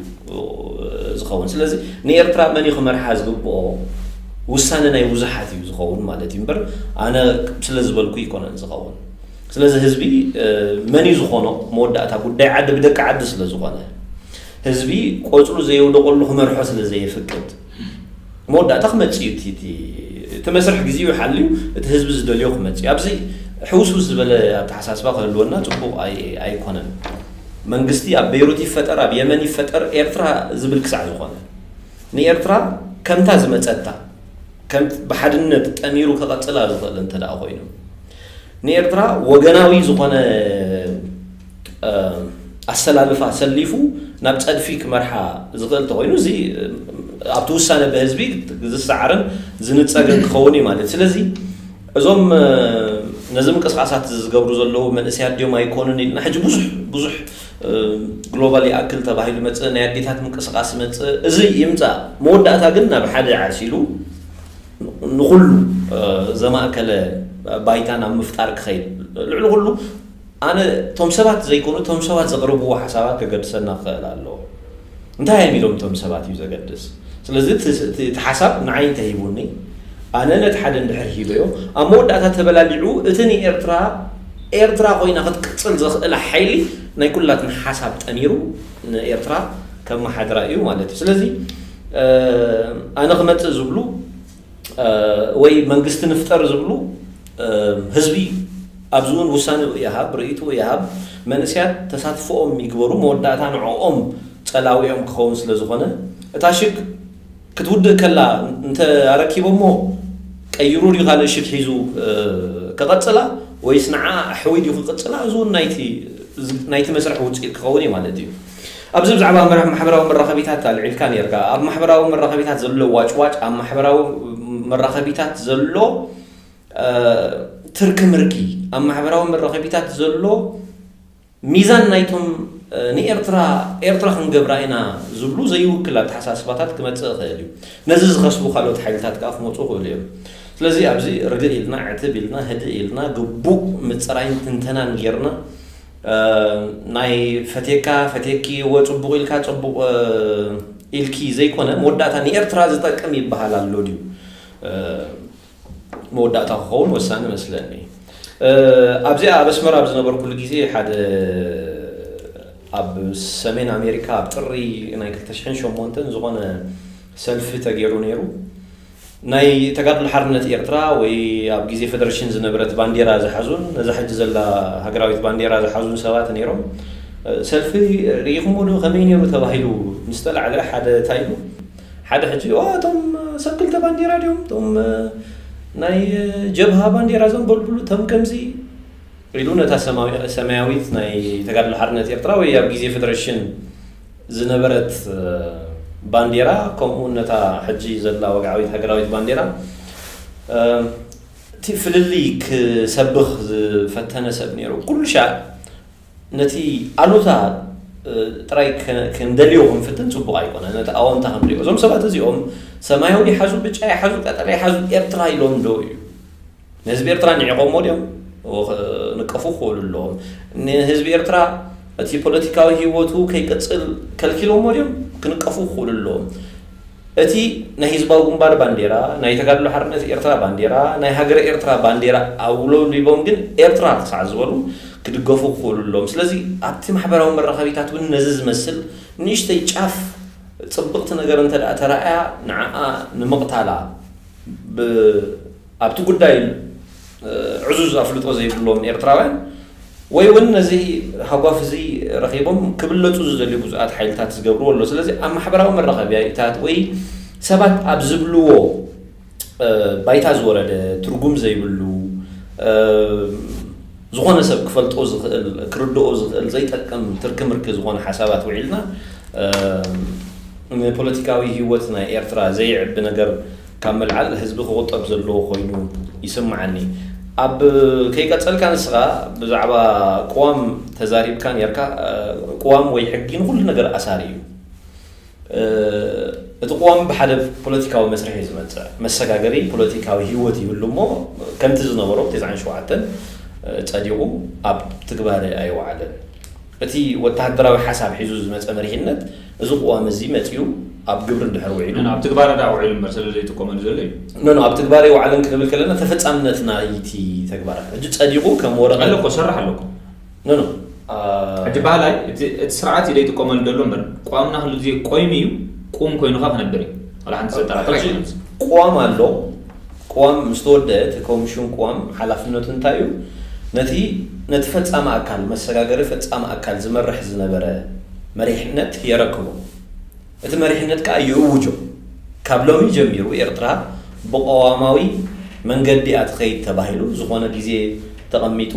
ዝኸውን ስለዚ ንኤርትራ መን እዩ ክመርሓ ዝግብኦ ውሳነ ናይ ብዙሓት እዩ ዝኸውን ማለት እዩ እምበር ኣነ ስለ ዝበልኩ ይኮነን ዝኸውን ስለዚ ህዝቢ መን እዩ ዝኾኖ መወዳእታ ጉዳይ ዓዲ ብደቂ ዓዲ ስለ ዝኾነ ህዝቢ ቆፅሉ ዘየውደቐሉ ክመርሖ ስለ ዘየፍቅድ መወዳእታ ክመጽእ እዩ እቲ እቲ እቲ መስርሕ ግዜኡ ሓልዩ እቲ ህዝቢ ዝደልዮ ክመጽእ እዩ። ኣብዚ ሕውስውስ ዝበለ ኣተሓሳስባ ክህልወና ጽቡቕ ኣይ ኣይኮነን። መንግስቲ ኣብ ቤይሩት ይፈጠር ኣብ የመን ይፈጠር ኤርትራ ዝብል ክሳዕ ዝኾነ ንኤርትራ ከምታ ዝመጸታ ከምት ብሓድነት ጠሚሩ ከቐጽላ ዝኽእል እንተደኣ ኮይኑ ንኤርትራ ወገናዊ ዝኾነ ኣሰላልፋ ሰሊፉ ናብ ጸድፊ ክመርሓ ዝኽእል ተኾይኑ እዚ ኣብቲ ውሳነ ብህዝቢ ዝሰዓርን ዝንጸግን ክኸውን እዩ ማለት ስለዚ እዞም ነዚ ምንቅስቃሳት ዝገብሩ ዘለዉ መንእሰያት ድዮም ኣይኮኑን ኢልና ሕጂ ብዙሕ ብዙሕ ግሎባል ይኣክል ተባሂሉ መፅእ ናይ ኣዴታት ምንቅስቃስ መፅእ እዚ ይምፃእ መወዳእታ ግን ናብ ሓደ ዓሲሉ ንኩሉ ዘማእከለ ባይታ ናብ ምፍጣር ክኸይድ ልዕሊ ኩሉ ኣነ እቶም ሰባት ዘይኮኑ እቶም ሰባት ዘቕርብዎ ሓሳባት ከገድሰና ክኸእል ኣለዎ። እንታይ እዮም ኢሎም እቶም ሰባት እዩ ዘገድስ። ስለዚ እቲ ሓሳብ ንዓይ እንተ ሂቡኒ ኣነ ነቲ ሓደ እንድሕር ሂበዮ ኣብ መወዳእታ ተበላሊዑ እቲ ንኤርትራ ኤርትራ ኮይና ክትቅጽል ዘኽእላ ሓይሊ ናይ ኩላትና ሓሳብ ጠሚሩ ንኤርትራ ከመሓድራ እዩ ማለት እዩ። ስለዚ ኣነ ክመጽእ ዝብሉ ወይ መንግስቲ ንፍጠር ዝብሉ ህዝቢ ኣብዚ እውን ውሳኔኡ ይሃብ ርእይትኡ ይሃብ መንእሰያት ተሳትፎኦም ይግበሩ መወዳእታ ንዕኦም ጸላዊኦም ክኸውን ስለ ዝኾነ እታ ሽግ ክትውድእ ከላ እንተ ኣረኪቦሞ ቀይሩ ድዩ ካልእ ሽግ ሒዙ ክቐጽላ ወይስ ንዓኣ ኣሕዊዱ ክቕጽላ እዚ እውን ናይቲ ናይቲ መስርሕ ውጽኢት ክኸውን እዩ ማለት እዩ። ኣብዚ ብዛዕባ ማሕበራዊ መራኸቢታት ኣልዒልካ ኔርካ። ኣብ ማሕበራዊ መራኸቢታት ዘሎ ዋጭዋጭ፣ ኣብ ማሕበራዊ መራኸቢታት ዘሎ ትርኪ ምርኪ፣ ኣብ ማሕበራዊ መራኸቢታት ዘሎ ሚዛን ናይቶም ንኤርትራ ኤርትራ ክንገብራ ኢና ዝብሉ ዘይውክል ኣተሓሳስባታት ክመጽእ ይኽእል እዩ። ነዚ ዝኸስቡ ካልኦት ሓይልታት ከኣ ክመጹ ይኽእሉ እዮም። ስለዚ ኣብዚ ርግእ ኢልና ዕትብ ኢልና ህድእ ኢልና ግቡእ ምጽራይን ትንተናን ጌርና ናይ ፈትየካ ፈትየኪ እወ ጽቡቕ ኢልካ ጽቡቕ ኢልኪ ዘይኮነ መወዳእታ ንኤርትራ ዝጠቅም ይበሃል ኣሎ ድዩ መወዳእታ ክኸውን ወሳኒ መስለኒ ኣብዚኣ ኣብ ኣስመራ ኣብ ዝነበርኩሉ ግዜ ሓደ ኣብ ሰሜን ኣሜሪካ ኣብ ጥሪ ናይ 2008 ዝኾነ ሰልፊ ተገይሩ ነይሩ ናይ ተጋድሎ ሓርነት ኤርትራ ወይ ኣብ ግዜ ፈደረሽን ዝነበረት ባንዴራ ዝሓዙን ነዛ ሕጂ ዘላ ሃገራዊት ባንዴራ ዝሓዙን ሰባት ነይሮም። ሰልፊ ርኢኹሞ ዶ ከመይ ነይሩ ተባሂሉ ምስ ተላዕለ ሓደ ታይ ኢሉ ሓደ ሕጂ ኦ እቶም ሰብ ክልተ ባንዴራ ድዮም እቶም ናይ ጀብሃ ባንዴራ ዘንበልብሉ እቶም ከምዚ ኢሉ ነታ ሰማያዊት ናይ ተጋድሎ ሓርነት ኤርትራ ወይ ኣብ ግዜ ፈደረሽን ዝነበረት ባንዴራ ከምኡውን ነታ ሕጂ ዘላ ወግዓዊት ሃገራዊት ባንዴራ እቲ ፍልልይ ክሰብኽ ዝፈተነ ሰብ ነይሩ ኩሉ ሻዕ ነቲ ኣሉታ ጥራይ ክንደልዮ ክንፍትን ጽቡቕ ኣይኮነ ነቲ ኣወንታ ክንሪኦ እዞም ሰባት እዚኦም ሰማያዊ ይሓዙ ብጫ ይሓዙ ቀጠልያ ይሓዙ ኤርትራ ኢሎም ዶ እዩ ንህዝቢ ኤርትራ ንዒቖሞ ድዮም ንቀፉ ክበሉ ኣለዎም። ንህዝቢ ኤርትራ እቲ ፖለቲካዊ ህይወቱ ከይቅጽል ከልኪሎሞ ድዮም ክንቀፉ ክኽእሉ ኣለዎም። እቲ ናይ ህዝባዊ ግንባር ባንዴራ፣ ናይ ተጋድሎ ሓርነት ኤርትራ ባንዴራ፣ ናይ ሃገረ ኤርትራ ባንዴራ ኣውለብሊቦም ግን ኤርትራ ክሳዕ ዝበሉ ክድገፉ ክኽእሉ ኣለዎም። ስለዚ ኣብቲ ማሕበራዊ መራኸቢታት እውን ነዚ ዝመስል ንእሽተይ ጫፍ ጽብቕቲ ነገር እንተድኣ ተራእያ ንዓኣ ንምቕታላ ብ ኣብቲ ጉዳይ ዕዙዝ ኣፍልጦ ዘይብሎም ኤርትራውያን ወይ ውን ነዚ ሃጓፍ እዚ ረኺቦም ክብለጹ ዝደልዩ ብዙኣት ሓይልታት ዝገብርዎ ኣሎ። ስለዚ ኣብ ማሕበራዊ መራኸቢያታት ወይ ሰባት ኣብ ዝብልዎ ባይታ ዝወረደ ትርጉም ዘይብሉ ዝኾነ ሰብ ክፈልጦ ዝኽእል ክርድኦ ዝኽእል ዘይጠቅም ትርኪ ምርኪ ዝኾነ ሓሳባት ውዒልና ንፖለቲካዊ ሂወት ናይ ኤርትራ ዘይዕቢ ነገር ካብ ምልዓል ህዝቢ ክቑጠብ ዘለዎ ኮይኑ ይስምዓኒ። ኣብ ከይቀጸልካ ንስኻ ብዛዕባ ቅዋም ተዛሪብካ ኔርካ ቅዋም ወይ ሕጊ ንኹሉ ነገር ኣሳሪ እዩ። እቲ ቅዋም ብሓደ ፖለቲካዊ መስርሕ እዩ ዝመጽእ። መሰጋገሪ ፖለቲካዊ ህይወት ይህሉ እሞ ከምቲ ዝነበሮ ቴስዓን ሸውዓተን ጸዲቑ ኣብ ትግባረ ኣይወዓለን። እቲ ወተሃደራዊ ሓሳብ ሒዙ ዝመጸ መሪሕነት እዚ ቅዋም እዚ መጺኡ ኣብ ግብሪ እንድሕር ውዒሉ። ኖኖ፣ ኣብ ትግባረ ደኣ ውዒሉ እምበር ስለ ዘይጥቀመሉ ዘሎ እዩ። ኖኖ፣ ኣብ ትግባረ ኣይወዓለን ክንብል ከለና ተፈጻምነት ናይቲ ተግባራት ሕጂ ጸዲቑ ከም ወረቐት። ኣሎ እኮ፣ ሰራሕ ኣሎ እኮ። ኖኖ። ሕጂ በሃላይ እቲ እቲ ስርዓት እዩ ዘይጥቀመሉ ዘሎ እምበር ቅዋምና ኩሉ ግዜ ቆይሙ እዩ፣ ቁም ኮይኑኻ ክነብር እዩ። ዋላ ሓንቲ ዘጠራጥር ኣይኮነን እዚ። ሕጂ ቅዋም ኣሎ፣ ቅዋም ምስ ተወድኣ እቲ ኮምሽን ቅዋም ሓላፍነቱ እንታይ እዩ? ነቲ ነቲ ፈጻሚ ኣካል፣ መሰጋገሪ ፈጻሚ ኣካል፣ ዝመርሕ ዝነበረ መሪሕነት የረክቦ። እቲ መሪሕነት ከኣ ይእውጆ። ካብ ሎሚ ጀሚሩ ኤርትራ ብቐዋማዊ መንገዲ እያ ትኸይድ ተባሂሉ ዝኾነ ግዜ ተቐሚጡ።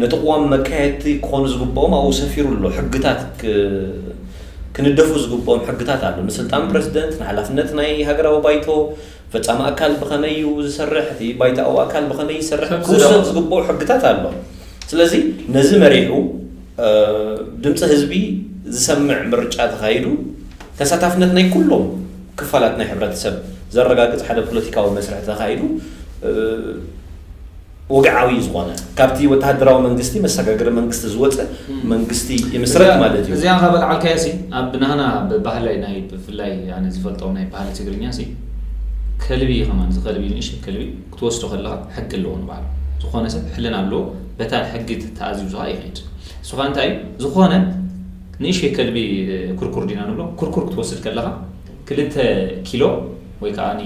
ነቲ ቅዋም መካየድቲ ክኾኑ ዝግብኦም ኣብኡ ሰፊሩ ኣሎ። ሕግታት ክንደፉ ዝግብኦም ሕግታት ኣሎ። ንስልጣን ፕረሲደንት፣ ንሓላፍነት ናይ ሃገራዊ ባይቶ፣ ፈጻሚ ኣካል ብኸመይ እዩ ዝሰርሕ፣ እቲ ባይታኣዊ ኣካል ብኸመይ ይሰርሕ፣ ክውሰድ ዝግብኦ ሕግታት ኣሎ። ስለዚ ነዚ መሪሑ ድምጺ ህዝቢ ዝሰምዕ ምርጫ ተኻይዱ ተሳታፍነት ናይ ኩሎም ክፋላት ናይ ሕብረተሰብ ዘረጋግጽ ሓደ ፖለቲካዊ መስርሕ ተኻይዱ ወግዓዊ ዝኾነ ካብቲ ወተሃደራዊ መንግስቲ መሰጋገሪ መንግስቲ ዝወጸ መንግስቲ ይምስረት ማለት እዩ። እዚኣ ካብ ኣልዓልካያሲ ኣብ ናህና ብ ባህላይ ናይ ብፍላይ ኣነ ዝፈልጦም ናይ ባህሊ ትግርኛሲ ከልቢ ከማን እዚ ከልቢ ንእሽተይ ከልቢ ክትወስዶ ከለኻ ሕጊ ኣለዎ ንባዕሉ ዝኾነ ሰብ ሕልና ኣለዎ በታ ሕጊ ተኣዚዙኻ ይኸይድ ንሱኻ እንታይ እዩ ዝኾነ ንእሽተይ ከልቢ ኩርኩር ዲና ንብሎ ኩርኩር ክትወስድ ከለኻ ክልተ ኪሎ ወይ ከኣኒ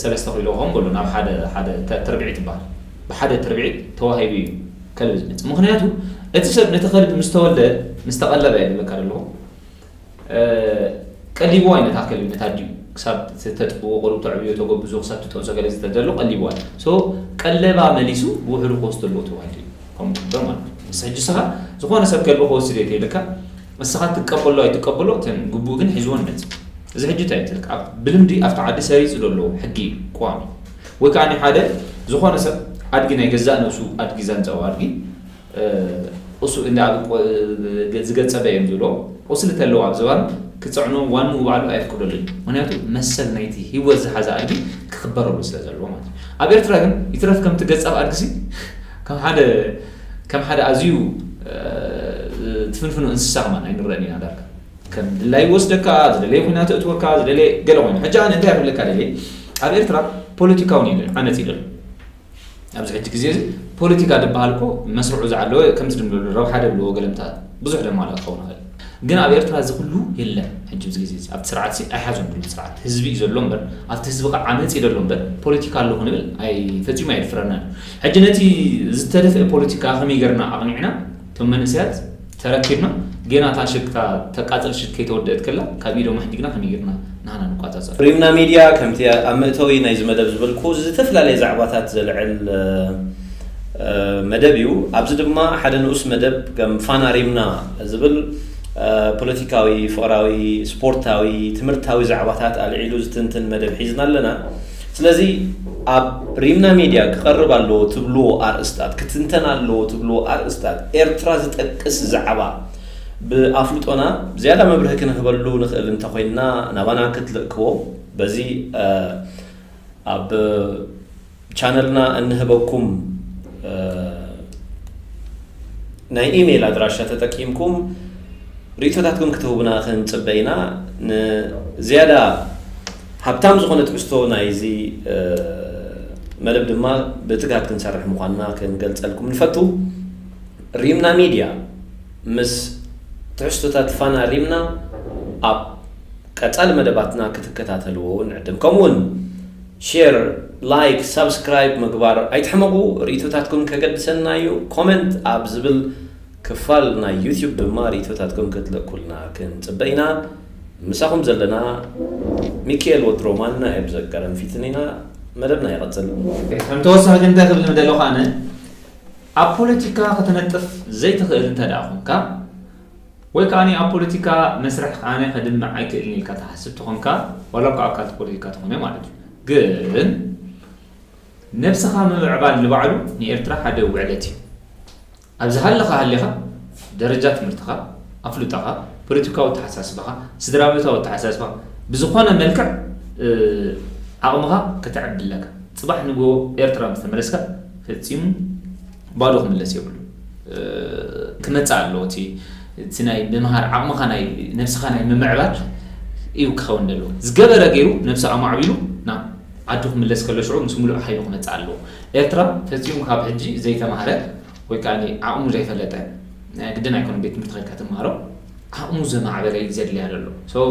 ሰለስተ ኪሎ ከም በሉ ናብ ሓደ ሓደ ተርብዒት ይበሃል ብሓደ ትርብዒት ተዋሂቡ እዩ ከልቢ ዝመጽእ ምክንያቱ እቲ ሰብ ነቲ ከልቢ ምስ ተወልደ ምስ ተቐለበ እየ ዝብለካ ደለኹ ቀሊብዋ እዩ ነታ ከልቢ ነታ ድዩ ክሳብ ተጥብዎ ቁሩብ ተዕብዮ ተጎብዞ ክሳብ ትጠብሶ ገለ ዝተደሎ ቀሊብዋ ሶ ቀለባ መሊሱ ብውሕዱ ክወስዶ ኣለዎ ተባሂሉ እዩ ከምኡ ክግበር ማለት እዩ ሕጂ ስኻ ዝኾነ ሰብ ከልቢ ክወስድ እየ ተይልካ ንስኻ ትቀበሎ ኣይትቀበሎ እተን ግቡእ ግን ሒዝወን መጺ እዚ ሕጂ እንታይ ትልክ ኣብ ብልምዲ ኣብቲ ዓዲ ሰሪጹ ደሎ ሕጊ እዩ ቋሚ ወይ ከኣኒ ሓደ ዝኾነ ሰብ ኣድጊ ናይ ገዛእ ነብሱ ኣድጊ ዛንዛው ኣድጊ ቁሱ እንዳ ዝገጸበ እዮም ዝብሎ ቁስሊ ተለዎ ኣብ ዝባኑ ክጽዕኖ ዋንኡ ባዕሉ ኣየፍቅደሉን እዩ ምክንያቱ መሰል ናይቲ ሂወት ዝሓዘ ኣድጊ ክክበረሉ ስለ ዘለዎ ማለት እዩ ኣብ ኤርትራ ግን ይትረፍ ከምቲ ገጻብ ኣድጊሲ ከም ሓደ ከም ሓደ ኣዝዩ ዝፍንፍኑ እንስሳ ከማን ኣይንረእን ኢና ዳርጋ ከም ድላዩ ይወስደካ ዝደለየ ኩናት እእትወካ ዝደለየ ገለ ኮይኑ ሕጂ ኣነ እንታይ ክብለካ ደልየ ኣብ ኤርትራ ፖለቲካ ውን የለን ዓመጽ እዩ ዘሎ ኣብዚ ሕጂ ግዜ እዚ ፖለቲካ ዝበሃል እኮ መስርዑ ዝዓለወ ከምቲ ድምለሉ ረብሓ ደልዎ ገለምታ ብዙሕ ደማላ ክኸውን ይኽእል ግን ኣብ ኤርትራ እዚ ኩሉ የለን ሕጂ ኣብዚ ግዜ እዚ ኣብቲ ስርዓትሲ ኣይሓዞን ድሮ እቲ ስርዓት ህዝቢ እዩ ዘሎ እምበር ኣብቲ ህዝቢ ከኣ ዓመጽ እዩ ደሎ እምበር ፖለቲካ ኣሎ ክንብል ኣይ ፈጺሙ ኣየድፍረናን እዩ ሕጂ ነቲ ዝተደፍኤ ፖለቲካ ከመይ ገርና ኣቅኒዕና እቶም መንእሰያት ተረኪብና ጌና እታ ሽግ እታ ተቃጽል ሽግ ከይተወደኤት ከላ ካብ ኢዶም ኣሕዲግና ከመይ ገርና ናህና ንቋጻጸር። ሪምና ሚድያ ከምቲ ኣብ መእተዊ ናይዚ መደብ ዝበልኩ ዝተፈላለየ ዛዕባታት ዘልዕል መደብ እዩ። ኣብዚ ድማ ሓደ ንኡስ መደብ ከም ፋና ሪምና ዝብል ፖለቲካዊ፣ ፍቕራዊ፣ ስፖርታዊ፣ ትምህርታዊ ዛዕባታት ኣልዒሉ ዝትንትን መደብ ሒዝና ኣለና። ስለዚ ኣብ ሪምና ሚድያ ክቐርብ ኣለዎ ትብልዎ ኣርእስታት፣ ክትንተን ኣለዎ ትብልዎ ኣርእስታት፣ ኤርትራ ዝጠቅስ ዛዕባ፣ ብኣፍልጦና ዝያዳ መብርሂ ክንህበሉ ንኽእል እንተ ዄንና፣ ናባና ክትልእክዎ፣ በዚ ኣብ ቻነልና እንህበኩም ናይ ኢመይል ኣድራሻ ተጠቂምኩም ርእይቶታትኩም ክትህቡና ክንጽበ ኢና። ንዝያዳ ሃብታም ዝዀነ ትሕዝቶ ናይዚ መደብ ድማ ብትግሃት ክንሰርሕ ምዃንና ክንገልጸልኩም ንፈቱ። ሪምና ሚድያ ምስ ትሕዝቶታት ፋና ሪምና ኣብ ቀፃሊ መደባትና ክትከታተልዎ ንዕድም። ከምኡ እውን ሼር፣ ላይክ፣ ሳብስክራይብ ምግባር ኣይትሕመቑ። ርኢቶታትኩም ከገድሰና እዩ። ኮመንት ኣብ ዝብል ክፋል ናይ ዩትዩብ ድማ ርኢቶታትኩም ክትልእኩልና ክንፅበ ኢና። ምሳኹም ዘለና ሚኪኤል ወትሮ ማና እየ ብዘቀረን ፊትን ኢና። መደብና ይቐፅል። ከም ተወሳኺ ግን እንታይ ክብል ምደለኹ ኣነ ኣብ ፖለቲካ ክትነጥፍ ዘይትኽእል እንተድኣ ኹንካ ወይ ከኣ ኣብ ፖለቲካ መስርሕ ቃነ ከድምዕ ኣይክእልን ኢልካ ትሓስብ ተኾንካ ዋላ እኳ ኣካልቲ ፖለቲካ ተኾነ ማለት እዩ ግን ነብስኻ ምምዕባል ንባዕሉ ንኤርትራ ሓደ ውዕለት እዩ ኣብ ዝሃለኻ ሃሊኻ ደረጃ ትምህርትኻ ኣፍልጦኻ ፖለቲካዊ ኣተሓሳስባኻ ስድራቤታዊ ኣተሓሳስባኻ ብዝኾነ መልክዕ ዓቕምኻ ከተዕቢ ኣለካ ጽባሕ ንግሆ ኤርትራ ምስ ተመለስካ ፈጺሙ ባዶ ክምለስ የብሉን ክመጽእ ኣለዎ እቲ እቲ ናይ ምምሃር ዓቕምኻ ናይ ነብስኻ ናይ ምምዕባል እዩ ክኸውን ዘለዎ ዝገበረ ገይሩ ነብሱ ኣማዕቢሉ ናብ ዓዱ ክምለስ ከሎ ሽዑ ምስ ምሉእ ሓይሉ ክመጽእ ኣለዎ ኤርትራ ፈጺሙ ካብ ሕጂ ዘይተማህረ ወይ ከኣ ዓቕሙ ዘይፈለጠ ግድን ኣይኮነን ቤት ትምህርቲ ከድካ ትማሃሮ ዓቕሙ ዘማዕበለ እዩ ዘድልያ ዘሎ so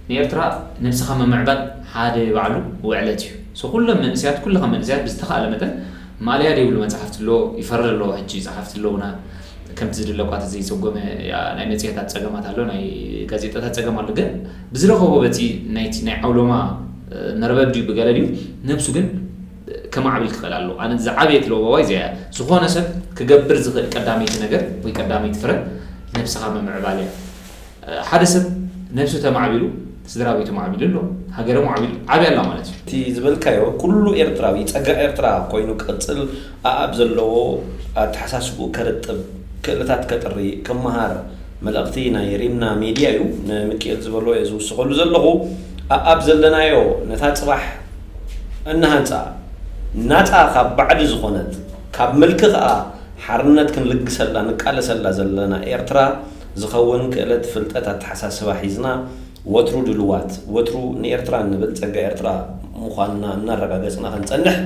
ንኤርትራ ነብስኻ ምምዕባል ሓደ ባዕሉ ውዕለት እዩ so ኩሎም መንእሰያት ኩልኻ መንእሰያት ብዝተኻእለ መጠን ማልያ ደይብሉ መጽሓፍቲ ኣሎ ይፈሪ ኣለዎ ሕጂ ጸሓፍቲ ኣለውና ከምቲ ዝድለ እኳ ተዘይጸጎመ ናይ መጽሔታት ጸገማት ኣሎ ናይ ጋዜጣታት ጸገም ኣሎ ግን ብዝረኸቦ በቲ ናይቲ ናይ ዓውሎማ መርበብ ድዩ ብገለ ድዩ ነብሱ ግን ከማዕብል ክኽእል ኣለዎ። ኣነ ዝዓበየት ለበዋይ እዚኣ እያ። ዝኾነ ሰብ ክገብር ዝኽእል ቀዳመይቲ ነገር ወይ ቀዳመይቲ ፍረ ነብስኻ ምምዕባል እያ። ሓደ ሰብ ነብሱ ተማዕቢሉ ስድራቤቱ ማዕቢሉ ኣሎ፣ ሃገረ ሞዕቢሉ ዓብያ ኣላ ማለት እዩ። እቲ ዝበልካዮ ኩሉ ኤርትራዊ ጸጋ ኤርትራ ኮይኑ ክቕጽል ኣኣብ ዘለዎ ኣተሓሳስብኡ ከርጥብ፣ ክእለታት ከጥሪ፣ ክመሃር፣ መልእኽቲ ናይ ሪምና ሜድያ ዩ ንምኪኤል ዝበሎ እየ ዝውስኸሉ ዘለኹ ኣኣብ ዘለናዮ ነታ ፅባሕ እንሃንፃ ናፃ ካብ ባዕዲ ዝኾነት ካብ ምልኪ ኸዓ ሓርነት ክንልግሰላ ንቃለሰላ ዘለና ኤርትራ ዝኸውን ክእለት ፍልጠት ኣተሓሳስባ ሒዝና ወትሩ ድልዋት ወትሩ ንኤርትራ እንብል ፀጋ ኤርትራ ምዃንና እናረጋገፅና ክንፀንሕ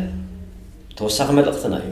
ተወሳኺ መልእኽትና ዩ።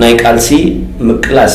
ናይ ቃልሲ ምቅላስ።